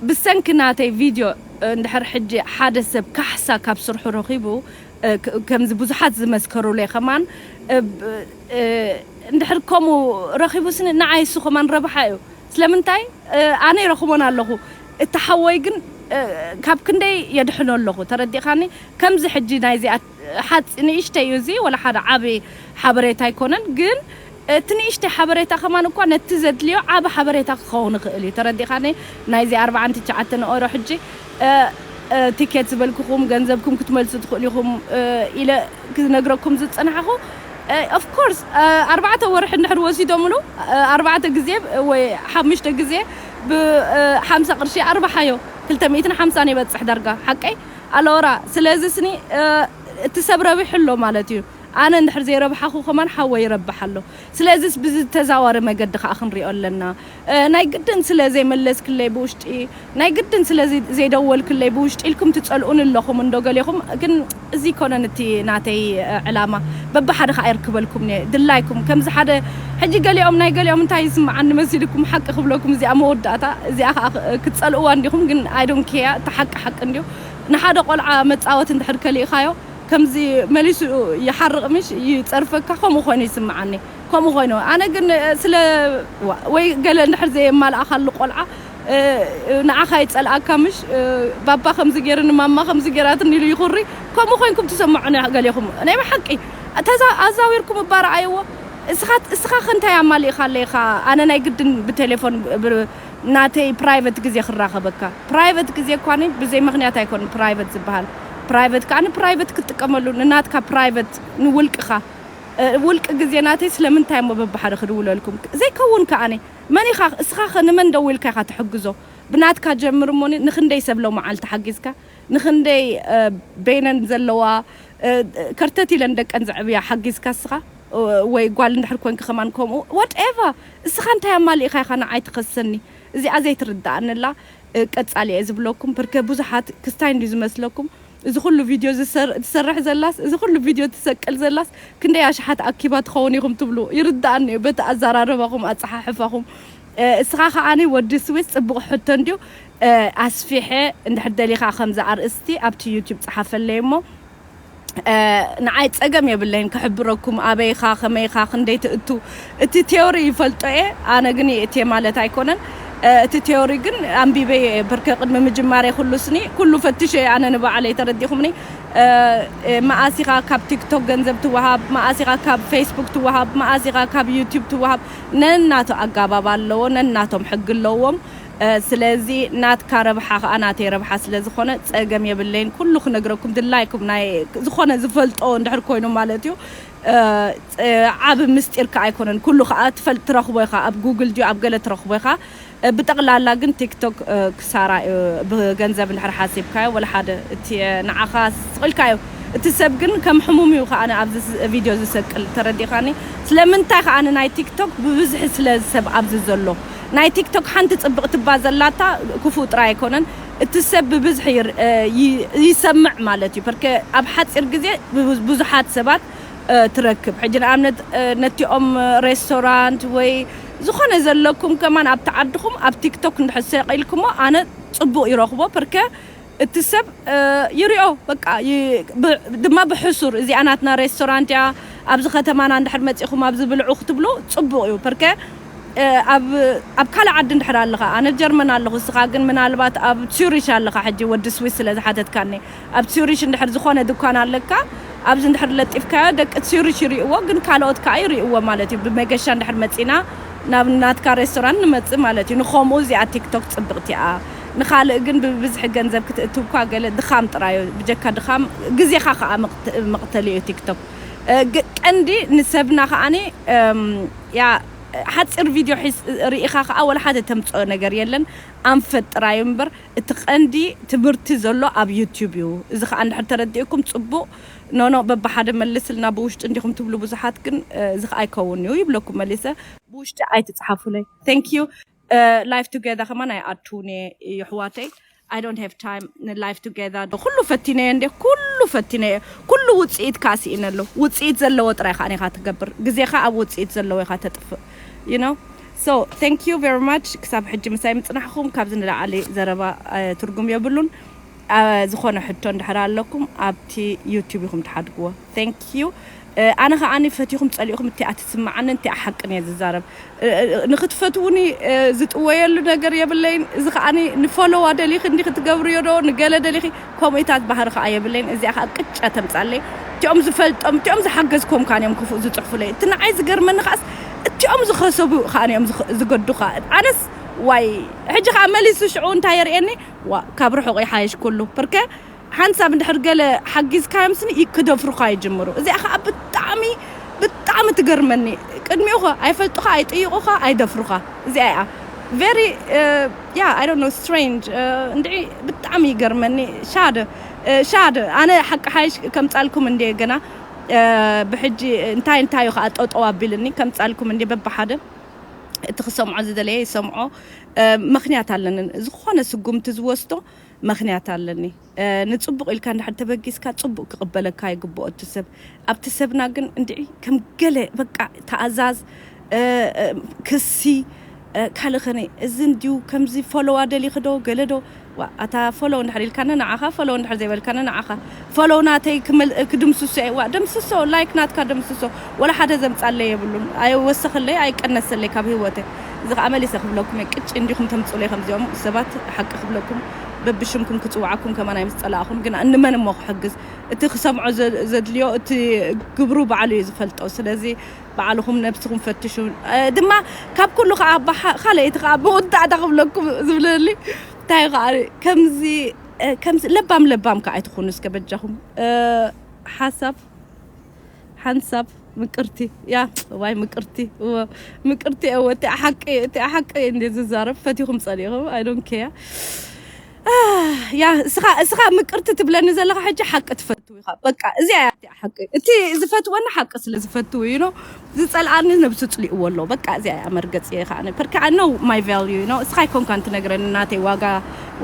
ብሰንኪ ናተይ ቪድዮ እንድሕር ሕጂ ሓደ ሰብ ካሕሳ ካብ ስርሑ ረኺቡ ከምዚ ብዙሓት ዝመስከሩለይ ከማን እንድሕር ከምኡ ረኺቡስኒ ንዓይሱ ከማን ረብሓ እዩ ስለምንታይ ኣነ ይረኽቦን ኣለኹ እቲ ሓወይ ግን ካብ ክንደይ የድሕኖ ኣለኹ ተረዲእካኒ ከምዚ ሕጂ ናይዚኣ ሓጺ ንእሽተይ እዩ እዚ ወላ ሓደ ዓቢ ሓበሬታ ኣይኮነን ግን እቲ ንእሽተይ ሓበሬታ ከማን እኳ ነቲ ዘድልዮ ዓቢ ሓበሬታ ክኸውን ይኽእል እዩ ተረዲእካኒ ናይዚ ኣርብዓን ትችዓተን ንኦሮ ሕጂ ቲኬት ዝበልኩኹም ገንዘብኩም ክትመልሱ ትኽእሉ ኢኹም ኢለ ክነግረኩም ዝጸናሕኹ ኦፍ ኮርስ ኣርባዕተ ወርሒ እንድሕር ወሲዶምሉ ኣርባዕተ ግዜ ወይ ሓሙሽተ ግዜ ብ ሓምሳ ቅርሺ ኣርብሓዮ ክልተ ሚእትን ሓምሳን ይበጽሕ ዳርጋ ሓቀይ ኣሎራ ስለዚ ስኒ እቲ ሰብ ረቢሑ ኣሎ ማለት እዩ ኣነ እንድሕር ዘይረብሓኩ ከማን ሓወይ ይረብሕ ኣሎ ስለዚስ ብዝተዛዋሪ መገዲ ከኣ ክንሪኦ ኣለና ናይ ግድን ስለ ዘይመለስክለይ ብውሽጢ ናይ ግድን ስለ ዘይደወልክለይ ብውሽጢ ኢልኩም ትጸልኡኒ ኣለኹም እንዶ ገሌኹም ግን እዚ ኣይኮነን እቲ ናተይ ዕላማ በብሓደ ከኣ የርክበልኩምን እየ ድላይኩም ከምዚ ሓደ ሕጂ ገሊኦም ናይ ገሊኦም እንታይ ይስምዓኒ መሲልኩም ሓቂ ክብለኩም እዚኣ መወዳእታ እዚኣ ከኣ ክትጸልእዋ እንዲኹም ግን ኣይ ዶን ኬያ እቲ ሓቂ ሓቂ እንድዩ ንሓደ ቆልዓ መጻወቲ እንድሕር ከሊእኻዮ ከምዚ መሊሱ ይሓርቕ ምሽ ይጸርፈካ ከምኡ ኮይኑ ይስምዓኒ ከምኡ ኮይኑ ኣነ ግን ስለ ወይ ገለ እንድሕር ዘየማላኣካሉ ቆልዓ ንዓካ ይጸልኣካ ምሽ ባባ ከምዚ ጌርኒ ማማ ከምዚ ጌራትኒ ኢሉ ይኩሪ ከምኡ ኮይንኩም ትሰምዑኒ ገሌኩም ናይ ብሓቂ ተዛ ኣዛዊርኩም እባ ረኣይዎ እስካ እስካ ከ እንታይ ኣማሊእካለይ ኢካ ኣነ ናይ ግድን ብቴሌፎን ብ ናተይ ፕራይቨት ግዜ ክራከበካ ፕራይቨት ግዜ እኳኒ ብዘይ ምክንያት ኣይኮን ፕራይቨት ዝብሃል ፕራይቨት ከኣ ፕራይቨት ክትጥቀመሉ ንናትካ ፕራይቨት ንውልቅካ ውልቅ ግዜ ናተይ ስለምንታይ እሞ በብሓደ ክድውለልኩም ዘይከውን ከኣ መን ኢኻ እስኻ ከ ንመን ደዊልካ ኢኻ ትሕግዞ ብናትካ ጀምር እሞ ንኽንደይ ሰብ ሎምዓልቲ ሓጊዝካ ንኽንደይ በይነን ዘለዋ ከርተት ኢለን ደቀን ዘዕብያ ሓጊዝካ እስኻ ወይ ጓል እንድሕር ኮንኪ ከማን ከምኡ what ever እስኻ እንታይ ኣማሊእኻ ኢኻ ንዓይ ትኸሰኒ እዚኣ ዘይትርደኣኒ ኣላ ቀጻሊ እየ ዝብለኩም ፐርከ ብዙሓት ክስታይ እንድዩ ዝመስለኩም እዚ ኩሉ ቪድዮ ትሰርሕ ዘላስ እዚ ኩሉ ቪድዮ ትሰቅል ዘላስ ክንደይ ኣሽሓት ኣኪባ ትኸውን ኢኹም ትብሉ ይርድኣኒ እዩ በቲ ኣዛራርባኹም ኣጸሓሕፋኹም እስኻ ከኣ ወዲ ስዊስ ጽቡቕ ሕቶ እንድዩ ኣስፊሐ እንድሕር ደሊኻ ከምዚ ኣርእስቲ ኣብቲ ዩቱብ ጸሓፈለይ እሞ ንዓይ ጸገም የብለይን ክሕብረኩም ኣበይኻ ከመይኻ ክንደይ ትእቱ እቲ ቴዎሪ ይፈልጦ እየ ኣነ ግን የእትየ ማለት ኣይኮነን እቲ ቴዎሪ ግን ኣንቢበዮ እየ ብርከ ቅድሚ ምጅማረይ ኩሉ ስኒ ኩሉ ፈትሸ እየ ኣነ ንባዕለይ ተረዲኹምኒ መኣስ ኢኻ ካብ ቲክቶክ ገንዘብ ትወሃብ መኣስ ኢኻ ካብ ፌስቡክ ትወሃብ መኣስ ኢኻ ካብ ዩቲዩብ ትወሃብ ነናቱ ኣጋባብ ኣለዎ ነናቶም ሕጊ ኣለዎም ስለዚ ናትካ ረብሓ ከኣ ናተይ ረብሓ ስለ ዝኾነ ጸገም የብለይን ኩሉ ክነግረኩም ድላይኩም ናይ ዝኾነ ዝፈልጦ እንድሕር ኮይኑ ማለት እዩ ዓቢ ምስጢር ከኣ ኣይኮነን ኩሉ ከኣ ትፈልጥ ትረኽቦ ኢኻ ኣብ ጉግል ድዩ ኣብ ገለ ትረኽቦ ኢኻ ብጠቕላላ ግን ቲክቶክ ክሳራ እዩ ብገንዘብ እንድሕር ሓሲብካዮ ወላሓደ እቲ ንዓኻ ስቕ ኢልካዮ እቲ ሰብ ግን ከም ሕሙም እዩ ከኣ ኣብዚ ቪድዮ ዝሰቅል ተረዲእኻኒ ስለምንታይ ከኣ ናይ ቲክቶክ ብብዝሒ ስለ ሰብ ኣብዚ ዘሎ ናይ ቲክቶክ ሓንቲ ጽብቕቲ እባ ዘላታ ክፉእ ጥራይ ኣይኮነን እቲ ሰብ ብብዝሒ ይሰምዕ ማለት እዩ ፐርከ ኣብ ሓጺር ግዜ ብዙሓት ሰባት ትረክብ ሕጂ ንኣብነት ነቲኦም ሬስቶራንት ወይ ዝኾነ ዘለኩም ከማን ኣብቲ ዓድኹም ኣብ ቲክቶክ እንድሕር ሰቂልክሞ ኣነ ጽቡቅ ይረኽቦ ፐርከ እቲ ሰብ ይሪኦ በቃ ድማ ብሕሱር እዚኣ ናትና ሬስቶራንት እያ ኣብዚ ከተማና እንድሕር መጺኹም ኣብዚ ብልዑ ክትብሉ ጽቡቅ እዩ ፐርከ ኣብ ካልእ ዓዲ እንድሕር ኣለኻ ኣነ ጀርመን ኣለኹ እስኻ ግን ምናልባት ኣብ ጹሪሽ ኣለኻ ሕጂ ወዲ ስዊስ ስለ ዝሓተትካኒ ኣብ ጹሪሽ እንድሕር ዝኾነ ድኳን ኣለካ ኣብዚ እንድሕር ለጢፍካዮ ደቂ ጹሪሽ ይሪእዎ ግን ካልኦት ከኣ ይሪእዎ ማለት እዩ ብመገሻ እንድሕር መጺና ናብ ናትካ ሬስቶራንት ንመጽእ ማለት እዩ ንኸምኡ እዚኣ ቲክቶክ ጽብቅቲ እያ ንኻልእ ግን ብብዝሒ ገንዘብ ክትእትው እኳ ገለ ድኻም ጥራይ እዩ ብጀካ ድኻም ግዜኻ ከኣ መቅተሊ እዩ ቲክቶክ ቀንዲ ንሰብና ከኣ እያ ሓጺር ቪድዮ ሒዝ ሪኢኻ ከኣ ወላ ሓደ ተምጽኦ ነገር የለን ኣንፈት ጥራይ እምበር እቲ ቀንዲ ትምህርቲ ዘሎ ኣብ ዩቱብ እዩ እዚ ከኣ እንድሕር ተረዲኡኩም ጽቡቅ ኖኖእ በብሓደ መልስልና ብውሽጢ እንዲኹም ትብሉ ብዙሓት ግን እዚ ከኣ ኣይከውን እዩ ይብለኩም መሊሰ ብውሽጢ ኣይትጽሓፉለይ Thank you። ላይፍ ቱገዘር ከማን ኣይኣቱን እየ የሕዋተይ ኣይ ዶንት ሃቭ ታይም ንላይፍ ቱገዘር ዶ ኩሉ ፈቲነየ እንዴ ኩሉ ፈቲነየ ኩሉ ውጽኢት ከዓ ስኢነ ኣሎ ውጽኢት ዘለዎ ጥራይ ከዓ ኢኻ ትገብር ግዜኻ ኣብ ውጽኢት ዘለዎ ኢኻ ተጥፍእ ዩ ኖ ሶ ታንክ ዩ ቨሪ ማች ክሳብ ሕጂ ምሳይ ምጽናሕኹም ካብዚ ንላዕሊ ዘረባ ትርጉም የብሉን ዝኮነ ሕቶ እንድሕር ኣለኩም ኣብቲ ዩቱብ ኢኩም ትሓድግዎ thank you ኣነ ከኣ ፈቲኩም ጸሊእኩም እቲኣ ትስመዓንን እቲኣ ሓቅን እየ ዝዛረብ ንክትፈትዉኒ ዝጥወየሉ ነገር የብለይን እዚ ከኣ ንፈሎው ኣደሊኪ እንዲኪ ትገብርዮ ዶ ንገለ ደሊኪ ኮምኢታት ባህሪ ከኣ የብለይን እዚኣ ከኣ ቅጫ ተምጻለይ እቲኦም ዝፈልጦም እቲኦም ዝሓገዝክዎም ከኣ እዮም ክፉእ ዝጽሕፉለይ እቲ ንዓይ ዝገርመኒ ከኣስ እቲኦም ዝከሰቡ ከኣ እዮም ዝገዱካ ኣነስ ዋይ ሕጂ ከኣ መሊሱ ሽዑ እንታይ የርእየኒ ዋእ ካብ ርሑቕ ይሓይሽ ኩሉ። ፐርከ ሓንቲ ሰብ እንድሕር ገለ ሓጊዝካዮም ስኒ ክደፍሩኻ ይጅምሩ እዚኣ ኸኣ ብጣዕሚ ብጣዕሚ ትገርመኒ ቅድሚኡ ኸ ኣይፈልጡኻ ኣይጥይቑኻ ኣይደፍሩኻ እዚኣ ኢያ ቨሪ ያ ኣይ ዶንት ኖው ስትሬንጅ እንድዒ ብጣዕሚ ይገርመኒ ሻደ ሻደ ኣነ ሓቂ ሓይሽ ከምጻልኩም እንድየ ገና ብሕጂ እንታይ እንታይ ዩ ኸኣ ጠጠው ኣቢልኒ ከምጻልኩም እንድየ በብሓደ እቲ ክሰምዖ ዝደለየ ይሰምዖ መኽንያት ኣለኒ ዝኾነ ስጉምቲ ዝወስዶ መኽንያት ኣለኒ ንጽቡቕ ኢልካ እንድሕር ተበጊስካ ጽቡቕ ክቕበለካ ይግብኦ እቲ ሰብ ኣብቲ ሰብና ግን እንድዒ ከም ገለ በቃ ተኣዛዝ ክሲ ካልእ ኸነ እዚ እንድዩ ከምዚ ፎሎዋ ደሊኽዶ ገለዶ ዋእ ኣታ ፎሎው እንድሕር ኢልካኒ ንዓኻ ፎሎው እንድሕር ዘይበልካኒ ንዓኻ ፎሎው ናተይ ክድምስሶ እየ ዋእ ደምስሶ ላይክ ናትካ ደምስሶ ወላ ሓደ ዘምጻለይ የብሉን ኣይወሰኸለይ ኣይቀነሰለይ ካብ ሂወተይ እዚ ከኣ መሊሰ ክብለኩም እየ ቅጭ እንዲኹም ተምጹለይ ከምዚኦም ሰባት ሓቂ ክብለኩም በብሽምኩም ክጽውዓኩም ከማን ኣይምስጸላእኹን ግና እንመን እሞ ክሕግዝ እቲ ክሰምዖ ዘድልዮ እቲ ግብሩ ባዕሉ እዩ ዝፈልጦ ስለዚ ባዕልኹም ነብስኹም ፈትሹ ድማ ካብ ኩሉ ከኣ ብኻልኣይ እቲ ከኣ መወዳእታ ክብለኩም ዝብለኒ እንታይ ከኣ ከምዚ ከምዚ ለባም ለባም ከኣ ኣይትኹኑ እስከ በጃኹም ሓሳብ ሓንሳብ ምቅርቲ ያ ዋይ ምቅርቲ እወ ምቅርቲ እወ እቲ ሓቂ እቲ ሓቂ እንዴ ዝዛረብ ፈቲኹም ጸሊኹም ኣይ ዶንት ኬር ያ እስኻ እስኻ ምቅርቲ ትብለኒ ዘለኻ ሕጂ ሓቂ ትፈትው ኢኻ በቃ እዚኣ እያ እቲኣ ሓቂ እቲ ዝፈትወኒ ሓቂ ስለ ዝፈትው እዩ ኖ ዝጸልኣኒ ነብሱ ጽሊእዎ ኣሎ በቃ እዚኣ እያ መርገጽ እየ ከዓነ ፐርካ ኣይ ኖው ማይ ቫልዩ ዩ ኖ እስኻ ኣይኮንካን ትነግረኒ ናተይ ዋጋ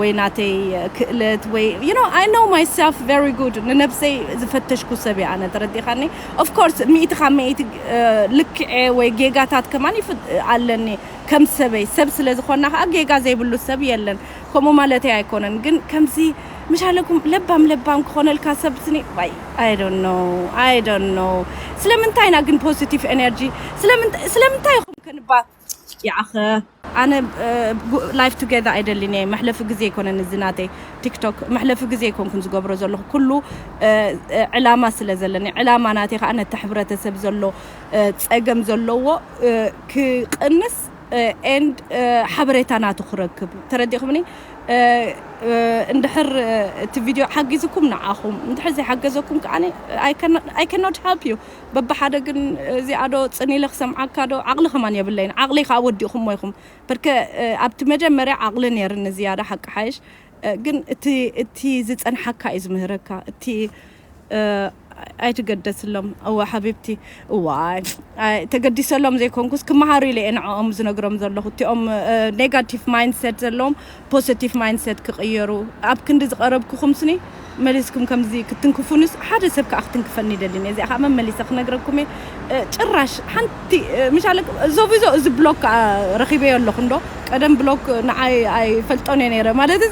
ወይ ናተይ ክእለት ወይ ዩ ኖ ኣይ ኖው ማይ ሰልፍ ቨሪ ጉድ ንነብሰይ ዝፈተሽኩ ሰብ እየ ኣነ ተረዲኻኒ ኦፍ ኮርስ ሚእቲ ካብ ሚእቲ ልክዐ ወይ ጌጋታት ከማን ኣለኒ ከም ሰበይ ሰብ ስለ ዝኾና ከኣ ጌጋ ዘይብሉ ሰብ የለን ከምኡ ማለተይ ኣይኮነን ግን ከምዚ ምሻለኩም ለባም ለባም ክኾነልካ ሰብ ስኒ ዋይ ኣይ ዶንት ኖው ኣይ ዶንት ኖው ስለምንታይ ኢና ግን ፖዚቲቭ ኤነርጂ ስለምንታይ ስለምንታይ ኢኹም ከንባ ያኣኸ ኣነ ላይፍ ቱጌዘር ኣይደልን እየ መሕለፊ ግዜ ኣይኮነን እዚ ናተይ ቲክቶክ መሕለፊ ግዜ ኣይኮንኩን ዝገብሮ ዘለኹ ኩሉ ዕላማ ስለ ዘለኒ ዕላማ ናተይ ከዓ ነቲ ሕብረተሰብ ዘሎ ፀገም ዘለዎ ክቕንስ and ሓበሬታ ናቱ ክረክብ ተረዲእኹምኒ እንድሕር እቲ ቪድዮ ሓጊዝኩም ንዓኹም እንድሕር ዘይሓገዘኩም ከዓ I cannot help you በብሓደ ግን እዚኣ ዶ ፅን ኢለ ክሰምዓካ ዶ ዓቕሊ ከማን የብለይን ዓቕለይ ከዓ ወዲእኹሞ ኢኹም በርከ ኣብቲ መጀመርያ ዓቕሊ ነይርኒ ዝያዳ ሓቂ ሓይሽ ግን እቲ እቲ ዝፀንሓካ እዩ ዝምህረካ እቲ ኣይትገደስሎም እወ ሓቢብቲ እዋይ ተገዲሰሎም ዘይኮንኩስ ክመሃሩ ኢለ እየ ንዕኦም ዝነግሮም ዘለኹ እቲኦም ኔጋቲቭ ማይንድሴት ዘለዎም ፖዘቲቭ ማይንድሴት ክቕየሩ ኣብ ክንዲ ዝቐረብኩኹም ስኒ መሊስኩም ከምዚ ክትንክፉንስ ሓደ ሰብ ከዓ ክትንክፈኒ ይደልን እየ እዚኣ ከዓ መመሊሰ ክነግረኩም እየ ጭራሽ ሓንቲ ምሻለ ዞቢዞ እዚ ብሎክ ከዓ ረኺበዮ ኣለኹ እንዶ ቀደም ብሎክ ንዓይ ኣይፈልጦን እየ ነይረ ማለት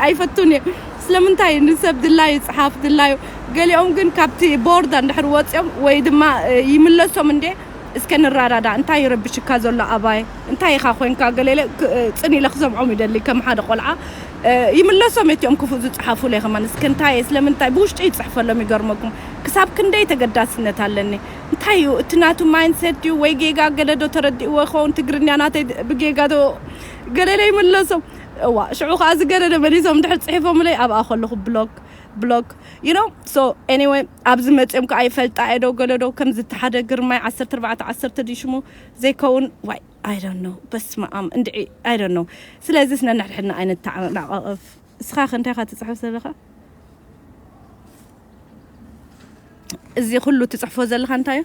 ኣይፈቱን እየ ስለምንታይ ንሰብ ድላዩ ጽሓፍ ድላዩ ገሊኦም ግን ካብቲ ቦርድ ኣንድሕር ወጽዮም ወይ ድማ ይምለሶም እንዴ እስከ ንራዳዳእ እንታይ ይረብሽካ ዘሎ ኣባይ እንታይ ኢኻ ኮንካ ገለ ኢለ ጽን ኢለ ክሰምዖም ይደሊ ከም ሓደ ቆልዓ ይምለሶም እቲኦም ክፉእ ዝጽሓፉለይ ከማን እስከ እንታየ ስለምንታይ ብውሽጠይ ይጽሕፈሎም ይገርመኩም ክሳብ ክንደይ ተገዳስነት ኣለኒ እንታይ እዩ እቲ ናቱ ማይንድሴት ድዩ ወይ ጌጋ ገለ ዶ ተረዲእዎ ይኸውን ትግርኛ ናተይ ብጌጋ ዶ ገለ ኢለ ይምለሶም እዋእ ሽዑ ከኣ ዝገደደ መሊሶም እንድሕር ጽሒፎምለይ ኣብኣ ከለኹ ብሎክ ብሎክ you know so anyway ኣብዚ መጽዮም ከኣ ይፈልጣ እየ ዶ ገለ ዶ ከምዚ እቲ ሓደ ግርማይ ዓሰርተ ኣርባዕተ ዓሰርተ ድዩ ሽሙ ዘይከውን ዋይ I don't know በስመኣም እንድዒ I don't know ስለዚስ ነንሕድሕድና ኣይንተዓናቐቕፍ እስኻ ከ እንታይ ኢኻ ትጽሕፍ ዘለኻ እዚ ኩሉ ትጽሕፎ ዘለኻ እንታይ እዩ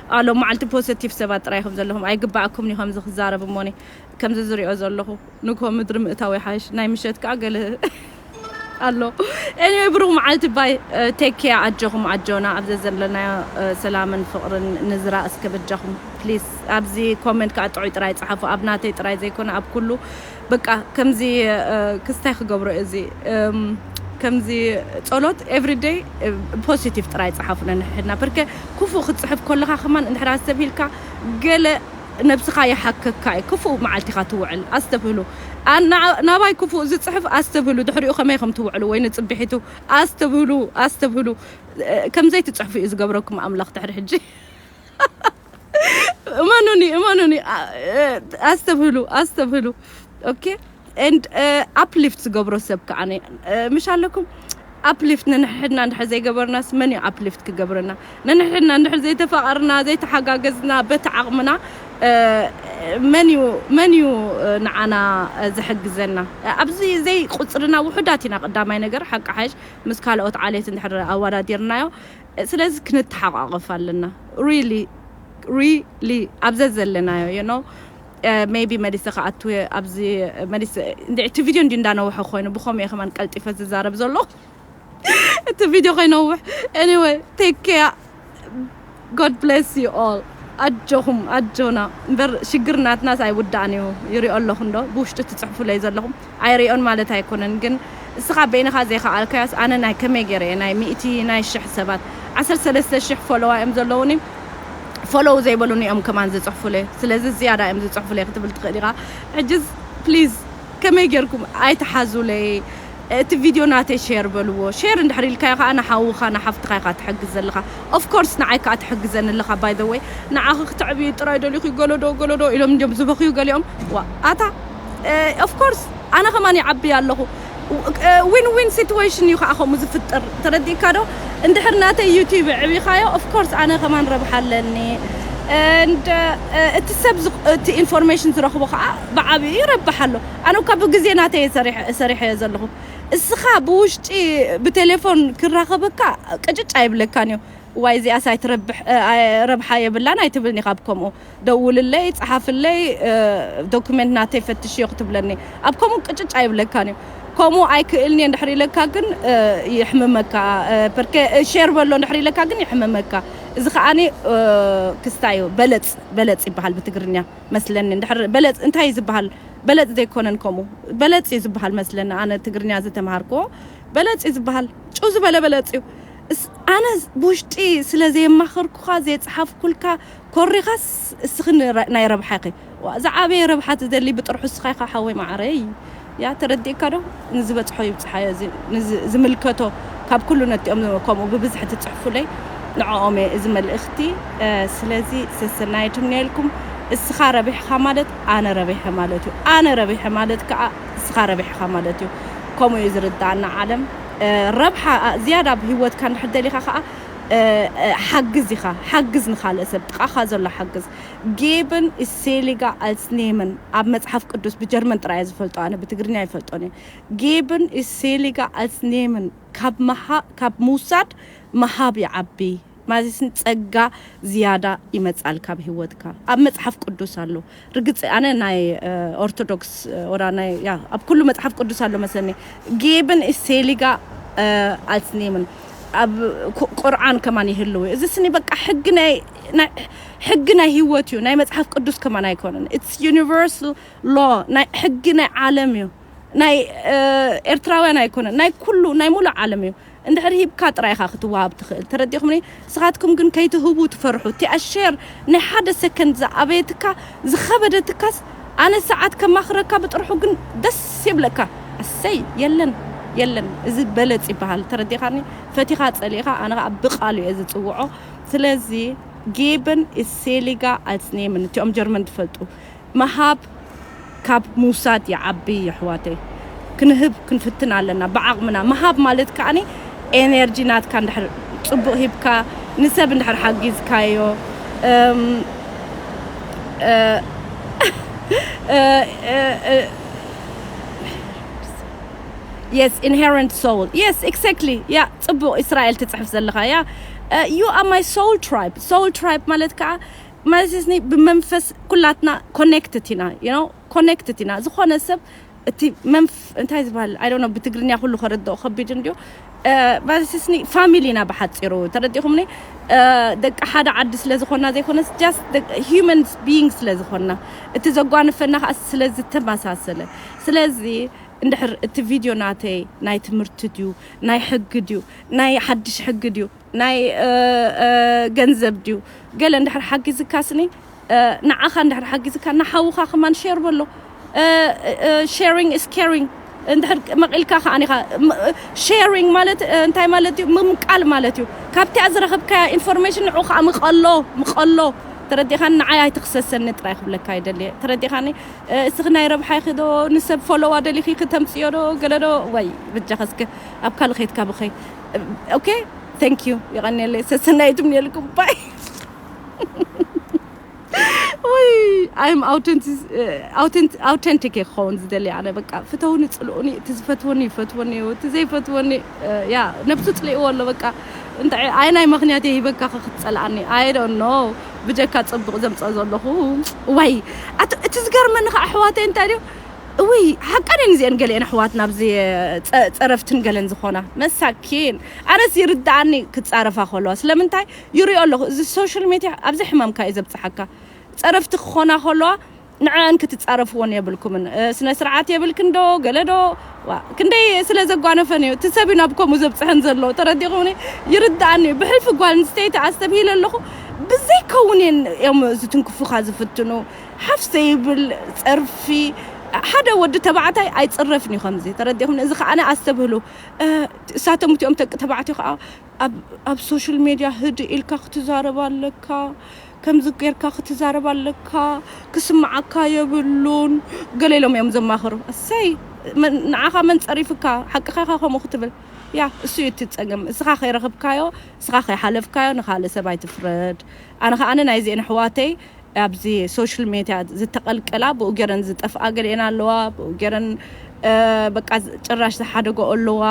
ኣብ ሎሚ መዓልቲ ፖዘቲቭ ሰባት ጥራይ ኢኹም ዘለኹም ኣይግበኣኩምን ኢዩ ከምዚ ክዛረብ እሞኒ ከምዚ ዝሪኦ ዘለኹ ንግሆ ምድሪ ምእታው ይሓይሽ ናይ ምሸት ከኣ ገለ ኣሎ ኤኒወይ ብሩኽ መዓልቲ ባይ ቴክ ኬር ኣጆኹም ኣጆና ኣብ ዘዘለናዮ ሰላምን ፍቕርን ንዝራ እስከ በጃኹም ፕሊስ ኣብዚ ኮመንት ከኣ ጥዑይ ጥራይ ጽሓፉ ኣብ ናተይ ጥራይ ዘይኮነ ኣብ ኩሉ በቃ ከምዚ ክስ ታይ ክገብሮ እዚ ከምዚ ጸሎት ኤቭሪ ደይ ፖሲቲቭ ጥራይ ጸሓፉ ነንሕድና ፐርከ ክፉእ ክትጽሕፍ ኮለኻ ከማን እንድሕር ኣስተብሂልካ ገለ ነብስኻ ይሓከካ እዩ ክፉእ መዓልቲ ኢኻ ትውዕል ኣስተብህሉ ናባይ ክፉእ ዝጽሕፍ ኣስተብህሉ ድሕሪኡ ከመይ ከም ትውዕሉ ወይ ንጽብሒቱ ኣስተብህሉ ኣስተብህሉ ከምዘይ ትጽሕፉ እዩ ዝገብረኩም ኣምላኽ ድሕሪ ሕጂ እመኑኒ እመኑኒ ኣስተብህሉ ኣስተብህሉ ኦኬ ኤንድ ኣፕሊፍት ዝገብሮ ሰብ ከዓ ምሽ ኣለኩም ኣፕሊፍት ንንሕድና እንድሕር ዘይገበርናስ መን እዩ ኣፕሊፍት ክገብረና ንንሕድና እንድሕር ዘይተፋቐርና ዘይተሓጋገዝና በቲ ዓቕምና መን እዩ መን እዩ ንዓና ዝሕግዘና ኣብዚ ዘይቁፅርና ውሑዳት ኢና ቀዳማይ ነገር ሓቂ ሓሽ ምስ ካልኦት ዓሌት እንድሕር ኣወዳዲርናዮ ስለዚ ክንተሓቛቖፍ ኣለና ሪሊ ሪሊ ኣብ ዘዘለናዮ you know ሜይቢ መሊሰ ክኣቱ እየ ኣብዚ መሊሰ እንድዒ እቲ ቪድዮ እንድዩ እንዳነውሐ ኮይኑ ብኸምኡ እየ ከማን ቀልጢፈ ዝዛረብ ዘለኹ እቲ ቪድዮ ከይነውሕ ኤኒወይ ቴክ ኬር ጎድ ብሌስ ዩ ኦል ኣጆኹም ኣጆና እምበር ሽግር ናትናስ ኣይውዳእን እዩ ይሪኦ ኣለኹ እንዶ ብውሽጢ ትፅሕፉለይ ዘለኹም ኣይሪኦን ማለት ኣይኮነን ግን እስኻ በይንኻ ዘይኻኣልካዮስ ኣነ ናይ ከመይ ገይረ እየ ናይ ሚእቲ ናይ ሽሕ ሰባት ዓሰርተ ሰለስተ ሽሕ ፎሎዋ እዮም ዘለዉኒ ፎሎው ዘይበሉኒ እዮም ከማን ዝጽሕፉለይ ስለዚ ዝያዳ እዮም ዝጽሕፉለይ ክትብል ትኽእል ኢኻ ሕጅስ ፕሊዝ ከመይ ገይርኩም ኣይትሓዙለይ እቲ ቪድዮ ናተይ ሼር በልዎ ሼር እንድሕር ኢልካዮ ከኣ ንሓውኻ ንሓፍትኻ ኢኻ ትሕግዝ ዘለኻ ኦፍ ኮርስ ንዓይ ከኣ ትሕግዘኒ ኣለኻ ባይ ዘ ወይ ንዓኺ ክትዕብዩ ጥራይ ደሊኺ ገለዶ ገለዶ ኢሎም እንድዮም ዝበኽዩ ገሊኦም ዋእ ኣታ ኦፍ ኮርስ ኣነ ከማን ይዓቢ ኣለኹ ዊን ዊን ሲትዌሽን እዩ ከዓ ከምኡ ዝፍጥር ተረዲእካ ዶ እንድሕር ናተይ ዩቲብ ዕቢኻዮ ኦፍ ኮርስ ኣነ ከማን ረብሓ ኣለኒ እቲ ሰብ እቲ ኢንፎርሜሽን ዝረኽቦ ከዓ ብዓብኡ ይረብሕ ኣሎ ኣነ እኳ ብግዜ ናተይ ሰሪሐዮ ዘለኹ እስኻ ብውሽጢ ብቴሌፎን ክራኸበካ ቅጭጭ ኣይብለካን እዩ ዋይ እዚኣስ ኣይትረብሕ ረብሓ የብላን ኣይትብልን ኢኻ ብከምኡ ደውልለይ ጸሓፍለይ ዶኩመንት ናተይ ፈትሽዮ ክትብለኒ ኣብ ከምኡ ቅጭጭ ኣይብለካን እዩ ከምኡ ኣይክእልን እየ እንድሕር ኢለካ ግን ይሕምመካ ፐርከ ሼር በሎ እንድሕር ኢለካ ግን ይሕምመካ እዚ ከኣ ክስታይ እዩ በለጽ በለጽ ይበሃል ብትግርኛ መስለኒ እንድሕር በለጽ እንታይ እዩ ዝበሃል በለጽ ዘይኮነን ከምኡ በለጽ እዩ ዝበሃል መስለኒ ኣነ ትግርኛ ዝተምሃርክዎ በለጽ እዩ ዝበሃል ጭው ዝበለ በለጽ እዩ ኣነ ብውሽጢ ስለ ዘየማኸርኩኻ ዘይጸሓፍኩልካ ኮሪኻስ እስኺ ናይ ረብሓኺ ዋእ ዝዓበየ ረብሓ ትደሊ ብጥርሑ እስኻ ኢኻ ሓወይ ማዓረይ ያእ ተረዲእካ ዶ ንዝበጽሖ ይብጽሓዮ እዚ ንዝምልከቶ ካብ ኩሉ ነቲኦም ከምኡ ብብዝሒ ትጽሕፉለይ ንዕኦም እየ እዚ መልእኽቲ ስለዚ ሰሰናዩ ትምነየልኩም እስኻ ረቢሕኻ ማለት ኣነ ረቢሐ ማለት እዩ ኣነ ረቢሐ ማለት ካኣ እስኻ ረቢሕኻ ማለት እዩ ከምኡ እዩ ዝርዳኣና ዓለም ረብሓ ዝያዳ ኣብ ሂወትካ እንድሕር ደሊኻ ካኣ ሓግዝ ኢኻ ሓግዝ ንኻልእ ሰብ ጥቓኻ ዘሎ ሓግዝ Geben ist seliger als nehmen ኣብ መጽሓፍ ቅዱስ ብጀርመን ጥራይ እየ ዝፈልጦ ኣነ ብትግርኛ ኣይፈልጦን እየ Geben ist seliger als nehmen ካብ ምውሳድ ምሃብ ይዓቢ ማለትሲ ጸጋ ዝያዳ ይመጽኣልካ ኣብ ሂወትካ ኣብ መጽሓፍ ቅዱስ ኣሎ ርግጽ ኣነ ናይ ኦርቶዶክስ ወራ ናይ ያ ኣብ ኩሉ መጽሓፍ ቅዱስ ኣሎ መስለኒ ጌብን ኢሴሊጋ ኣልስ ኔምን ኣብ ቁርዓን ከማን ይህልው እዚ ስኒ በቃ ሕጊ ናይ ሕጊ ናይ ህይወት እዩ ናይ መጽሓፍ ቅዱስ ከማን ኣይኮነን ኢትስ ዩኒቨርሳል ሎ ናይ ሕጊ ናይ ዓለም እዩ ናይ ኤርትራውያን ኣይኮነን ናይ ኩሉ ናይ ሙሉእ ዓለም እዩ እንድሕር ሂብካ ጥራይ ኢኻ ክትዋሃብ ትኽእል ተረዲእኹምኒ ንስኻትኩም ግን ከይትህቡ ትፈርሑ እቲኣ ሼር ናይ ሓደ ሰከንድ ዝኣበየትካ ዝኸበደትካስ ኣነ ሰዓት ከማኽረካ ብጥርሑ ግን ደስ የብለካ ኣሰይ የለን የለን እዚ በለጽ ይበሃል ተረዲኻኒ ፈቲኻ ጸሊእኻ ኣነ ከኣ ብቃሉ እየ ዝጽውዖ ስለዚ ጌበን ኢዝ ሴሊጋ ኣልስ ኔምን እቲኦም ጀርመን ዝፈልጡ ምሃብ ካብ ምውሳድ ይዓቢ የሕዋተይ ክንህብ ክንፍትን ኣለና ብዓቅምና ምሃብ ማለት ከኣ ኤነርጂ ናትካ እንድሕር ጽቡቅ ሂብካ ንሰብ እንድሕር ሓጊዝካዮ የስ ኢንሄረንት ሶውል የስ ኤክሰክትሊ ያ ጽቡቅ ኢስራኤል ትጽሕፍ ዘለካ ያ ዩ ኣር ማይ ሶውል ትራይብ ሶውል ትራይብ ማለት ከኣ ማለትኒ ብመንፈስ ኩላትና ኮኔክትድ ኢና ዩ ኮኔክትድ ኢና ዝኾነ ሰብ እቲ መንፍ እንታይ ዝበሃል ኣይ ዶንት ኖ ብትግርኛ ኩሉ ከረድኦ ከቢድ እንድዩ ማለትኒ ፋሚሊ ኢና ብሓፂሩ ተረዲኹምኒ ደቂ ሓደ ዓዲ ስለ ዝኾና ዘይኮነስ ጃስት ሂዩመን ቢይንግ ስለ ዝኾና እቲ ዘጓንፈና ከዓ ስለ ዝተመሳሰለ ስለዚ እንድሕር እቲ ቪድዮ ናተይ ናይ ትምህርቲ ድዩ ናይ ሕጊ ድዩ ናይ ሓድሽ ሕጊ ድዩ ናይ ገንዘብ ድዩ ገለ እንድሕር ሓጊዝካ ስኒ ንዓኻ እንድሕር ሓጊዝካ ንሓውኻ ከማን ሼር በሎ ሼሪንግ ኢስ ኬሪንግ እንድሕር መቒልካ ከኣ ኢኻ ሼሪንግ ማለት እንታይ ማለት እዩ ምምቃል ማለት እዩ ካብቲኣ ዝረኸብካያ ኢንፎርሜሽን ንዑ ከኣ ምቐሎ ምቐሎ ተረዲኻኒ ንዓይ ኣይትኽሰሰኒ ጥራይ ክብለካ ይደልየ ተረዲኻኒ እስኺ ናይ ረብሓይኺ ዶ ንሰብ ፎሎዋ ደሊኺ ክተምፅዮ ዶ ገለ ዶ ወይ በጃኸ እስከ ኣብ ካልእ ከይትካ ብኸይ ኦኬ ቴንክ ዩ የቀኔለይ ሰሰናይ ትምኔልኩም ባይ ወይ ኣይም ኣውተንቲክ እየ ክኸውን ዝደሊ ኣነ በቃ ፍተውኒ ፅልኡኒ እቲ ዝፈትወኒ ይፈትወኒ እዩ እቲ ዘይፈትወኒ ያ ነብሱ ፅልእዎ ኣሎ በቃ እንታይ ኣይ ናይ ምክንያት እየ ሂበካ ክትፀልኣኒ ኣይ ዶንት ኖ ብጀካ ፅቡቕ ዘምፀ ዘለኹ ዋይ እቲ ዝገርመኒ ከዓ ኣሕዋተይ እንታይ ድዩ እውይ ሓቀን እየን እዚኤን ገሊኤን ኣሕዋትና ኣብዚ ፀረፍትን ገለን ዝኾና መሳኪን ኣነስ ይርድኣኒ ክፃረፋ ከለዋ ስለምንታይ ይሪኦ ኣለኹ እዚ ሶሻል ሜድያ ኣብዚ ሕማምካ እዩ ዘብፅሓካ ፀረፍቲ ክኾና ከለዋ ንዐን ክትፃረፍዎን የብልኩምን ስነ ስርዓት የብልክን ዶ ገለ ዶ ዋ ክንደይ ስለ ዘጓነፈን እዩ እቲ ሰብ እዩ ናብ ከምኡ ዘብፅሐን ዘሎ ተረዲኹምኒ ይርድኣኒ እዩ ብሕልፊ ጓል ኣንስተይቲ ኣስተብሂለ ኣለኹ ብዘይከውን እየን እዮም ዝትንክፉኻ ዝፍትኑ ሓፍ ዘይብል ጸርፊ ሓደ ወዲ ተባዕታይ ኣይጽረፍን እዩ ከምዚ ተረዲኹም እዚ ከኣ ኣስተብህሉ እሳቶም እቲኦም ደቂ ተባዕትዮ ከኣ ኣብ ሶሻል ሜድያ ህድ ኢልካ ክትዛረብ ኣለካ ከምዚ ጌርካ ክትዛረብ ኣለካ ክስምዓካ የብሉን ገለ ኢሎም እዮም ዘማኽሩ እሰይ ንዓኻ መን ጸሪፍካ ሓቅኻ ኢኻ ከምኡ ክትብል ያ እሱ እዩ እቲ ጸገም እስኻ ከይረኽብካዮ እስኻ ከይሓለፍካዮ ንኻልእ ሰብ ኣይትፍረድ ኣነ ከኣ ናይዚኤን ኣሕዋተይ ኣብዚ ሶሽል ሜድያ ዝተቀልቀላ ብኡ ገረን ዝጠፍኣ ገሊኤን ኣለዋ ብኡ ገረን በቃ ጭራሽ ዝሓደገኦ ኣለዋ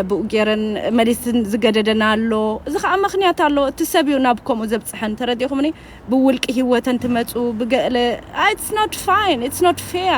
ብኡ ገረን መሊስን ዝገደደን ኣሎ እዚ ከዓ ምክንያት ኣለዎ እቲ ሰብ እዩ ናብ ከምኡ ዘብፅሐን ተረዲእኹምኒ ብውልቂ ሂወተን ትመፁ ብገለ ኢትስ ኖት ፋይን ኢትስ ኖት ፌር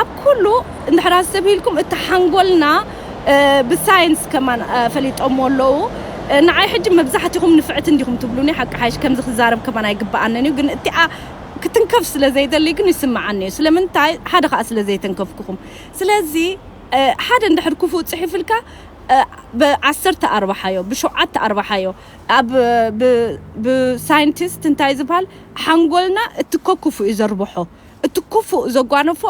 ኣብ ኩሉ እንድሕር ኣስተብሂልኩም እቲ ሓንጎልና ብሳይንስ ከማን ፈሊጦምዎ ኣለዉ ንዓይ ሕጂ መብዛሕቲኹም ንፍዕቲ እንዲኹም ትብሉኒ ሓቂ ሓይሽ ከምዚ ክዛረብ ከማን ኣይግብኣንን እዩ ግን እቲኣ ክትንከፍ ስለ ዘይደሊ ግን ይስምዓኒ እዩ ስለምንታይ ሓደ ከኣ ስለ ዘይተንከፍኩኹም ስለዚ ሓደ እንድሕር ክፉእ ጽሒፍልካ ብ ዓሰርተ ኣርባሓዮ ብ ሸውዓተ ኣርባሓዮ ኣብ ብ ብ ሳይንቲስት እንታይ ዝብሃል ሓንጎልና እቲ ኮኩፉ እዩ ዘርብሖ እቲ ክፉእ ዘጓነፎ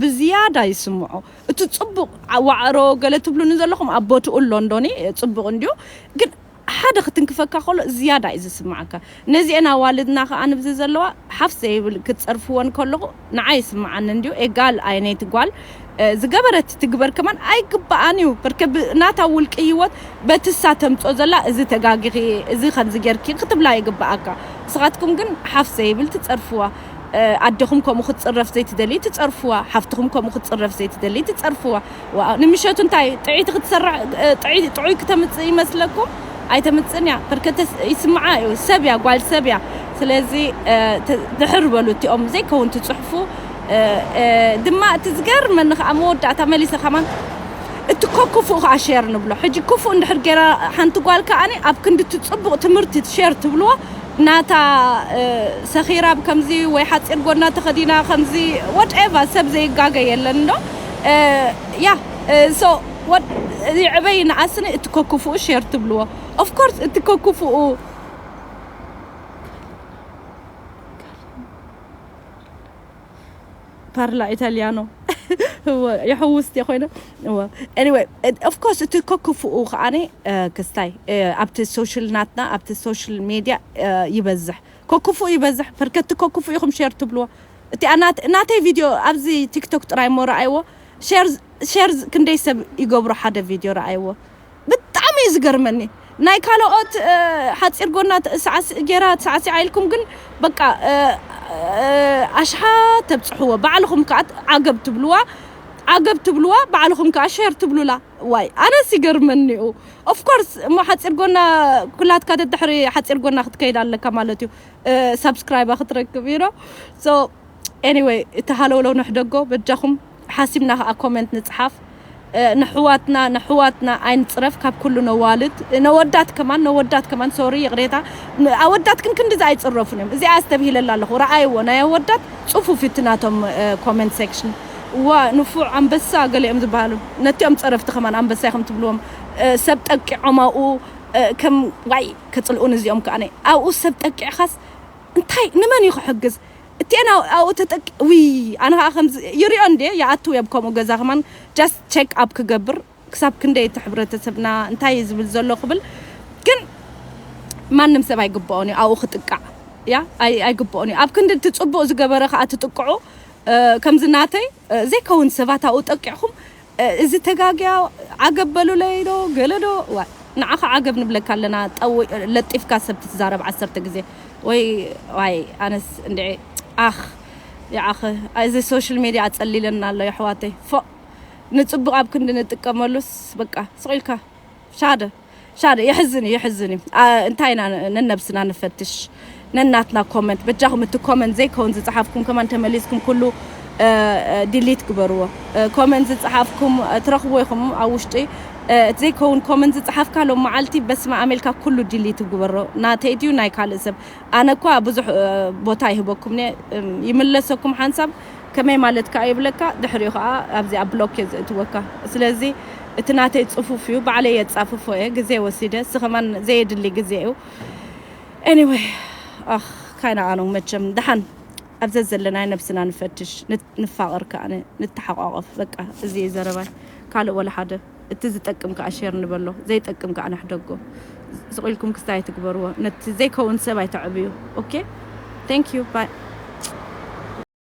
ብዝያዳ ይስምዖ እቲ ጽቡቕ ዋዕሮ ገለ ትብሉኒ ዘለኹም ኣብ ቦትኡ ኣሎ እንዶኒ ጽቡቕ እንድዩ ግን ሓደ ክትንክፈካ ከሎ ዝያዳ እዩ ዝስምዓካ ነዚኤን ኣዋልድና ከኣ ንብዚ ዘለዋ ሓፍ ዘይብል ክትጸርፍወን ከለኹ ንዓይ ይስምዓኒ እንድዩ ኤጋል ኣይነይቲ ጓል ዝገበረት ትግበር ከማን ኣይግብኣን እዩ በርከ ናታ ውልቂ ህይወት በትሳ ተምጾ ዘላ እዚ ተጋጊኺ እዚ ከምዚ ጌርኪ ክትብላ ይግብኣካ ንስኻትኩም ግን ሓፍ ዘይብል ትጸርፍዋ ኣደኹም ከምኡ ክትጽረፍ ዘይትደልይ ትጸርፍዋ ሓፍትኹም ከምኡ ክትጽረፍ ዘይትደልይ ትጸርፍዋ ዋእ ንምሸቱ እንታይ ጥዕይቲ ክትሰርዕ ጥዕይ ጥዑይ ክተምጽእ ይመስለኩም ኣይተምጽእን እያ በርከተ ይስምዓ እዩ ሰብ እያ ጓል ሰብ እያ ስለዚ ድሕር በሉ እቲኦም ዘይከውን ትጽሕፉ ድማ እቲ ዝገርመኒ ከዓ መወዳእታ መሊሰ ከማን እቲ ኮ ክፉእ ከዓ ሼር ንብሎ ሕጂ ክፉእ እንድሕር ገይራ ሓንቲ ጓል ከዓኒ ኣብ ክንዲ እቲ ጽቡቕ ትምህርቲ ሼር ትብልዎ ናታ ሰኺራ ብ ከምዚ ወይ ሓጺር ጎድና ተኸዲና ከምዚ what ever ሰብ ዘይጋገ የለን እንዶ yeah so what ይዕበ ይንኣስኒ እቲ ከኩፉኡ share ትብልዎ of course እቲ ከኩፉኡ ፓርላ ኢታልያኖ እወ የሕውስ እንተ ኮይነ እወ ኤኒወይ ኦፍ ኮርስ እቲ ከክፍኡ ከዓኒ ክስታይ ኣብቲ ሶሻል ናትና ኣብቲ ሶሻል ሜድያ ይበዝሕ ከክፍኡ ይበዝሕ ፐርከቲ ከክፍኡ ኢኹም ሼር ትብልዎ እቲኣ ናተይ ቪድዮ ኣብዚ ቲክቶክ ጥራይ እሞ ረኣይዎ ሼር ክንደይ ሰብ ይገብሮ ሓደ ቪድዮ ረኣይዎ ብጣዕሚ እዩ ዝገርመኒ ናይ ካሎኦት ሓጺር ጎና ሳዕሲዕ ጌራ ሳዕሲዓ ኢልኩም ግን በቃ ኣሽሓት ተብጽሕዎ ባዕልኹም ከኣ ዓገብ ትብልዋ ዓገብ ትብልዋ ባዕልኹም ከኣ ሸር ትብሉላ ዋይ ኣነስ ይገርመኒ እዩ ኦፍ ኮርስ እሞ ሓጺር ጎና ኩላትካ ደድሕሪ ሓጺር ጎና ክትከይድ ኣለካ ማለት እዩ ሳብስክራይባ ክትረክብ እዩ ሶ ኤኒዌይ እቲ ሃለውለው ንሕደጎ በጃኹም ሓሲብና ከኣ ኮመንት ንጽሓፍ ነሕዋትና ነሕዋትና ኣይንጽረፍ ካብ ኩሉ ነዋልድ ነወዳት ከማን ነወዳት ከማን ሶሪ ይቕሬታ ኣወዳት ግን ክንድዚ ኣይጽረፉን እዮም እዚኣ ኣስተብሂለላ ኣለኹ ረኣይዎ ናይ ኣወዳት ጽፉፍ እቲ ናቶም ኮመንት ሴክሽን ዋ ንፉዕ ኣንበሳ ገሊኦም ዝበሃሉ ነቲኦም ጸረፍቲ ከማን ኣንበሳ ኢኹም ትብልዎም ሰብ ጠቂዖም ኣብኡ ከም ዋይ ከጽልኡን እዚኦም ከኣ ኣብኡ ሰብ ጠቂዕኻስ እንታይ ንመን እዩ ክሕግዝ እቲኤን ኣብኡ ተጠቂ ውይ ኣነ ከኣ ከምዚ ይሪኦ እንድየ ይኣትው እየ ኣብ ከምኡ ገዛ ከማን just check up ክገብር ክሳብ ክንደይ እቲ ሕብረተሰብና እንታይ እዩ ዝብል ዘሎ ክብል ግን ማንም ሰብ ኣይግብኦን እዩ ኣብኡ ክጥቃዕ ያ ኣይግብኦን እዩ ኣብ ክንዲ እቲ ጽቡቅ ዝገበረ ከኣ ትጥቅዑ ከምዚ ናተይ ዘይከውን ሰባት ኣብኡ ጠቂዕኩም እዚ ተጋግያ ዓገብ በሉለይ ዶ ገለ ዶ ዋእ ንዓኻ ዓገብ ንብለካ ኣለና ጠው ለጢፍካ ሰብ ትትዛረብ ዓሰርተ ግዜ ወይ ዋይ ኣነስ እንድዒ ኣኽ ይዓኽ እዚ ሶሽል ሜድያ ኣጸሊለና ኣሎ የሕዋተይ ፎእ ንጽቡቅ ኣብ ክንዲ ንጥቀመሉስ በቃ ስቅ ኢልካ ሻደ ሻደ የሕዝን እዩ የሕዝን እዩ እንታይ ኢና ነነብስና ንፈትሽ ነናትና ኮመንት በጃኹም እቲ ኮመንት ዘይከውን ዝፀሓፍኩም ከማን ተመሊስኩም ኩሉ ዲሊት ግበርዎ ኮመንት ዝፀሓፍኩም ትረኽብዎ ኢኹም ኣብ ውሽጢ እቲ ዘይከውን ኮመንት ዝፀሓፍካ ሎም መዓልቲ በስመ ኣብ ኢልካ ኩሉ ዲሊት ግበሮ ናተይ ድዩ ናይ ካልእ ሰብ ኣነ እኳ ብዙሕ ቦታ ይህበኩም ይምለሰኩም ሓንሳብ ከመይ ማለት ከኣ ይብለካ ድሕሪኡ ከኣ ኣብዚ ኣብ ብሎክ እየ ዝእትወካ ስለዚ እቲ ናተይ ጽፉፍ እዩ ባዕለይ የጻፍፎ እየ ግዜ ወሲደ እዚ ከማን ዘየድሊ ግዜ እዩ anyway ኣኽ ካይናኣኑ መቸም ደሓን ኣብ ዘዘለናዮ ነብስና ንፈትሽ ንፋቐር ከኣ ንተሓቋቖፍ በቃ እዚ እዩ ዘረባይ ካልእ ወላ ሓደ እቲ ዝጠቅም ከኣ ሼር ንበሎ ዘይጠቅም ከኣ ንሕደጎ ስቕ ኢልኩም ክስታይ ኣይትግበርዎ ነቲ ዘይከውን ሰብ ኣይተዕብዩ ኦኬ thank you bye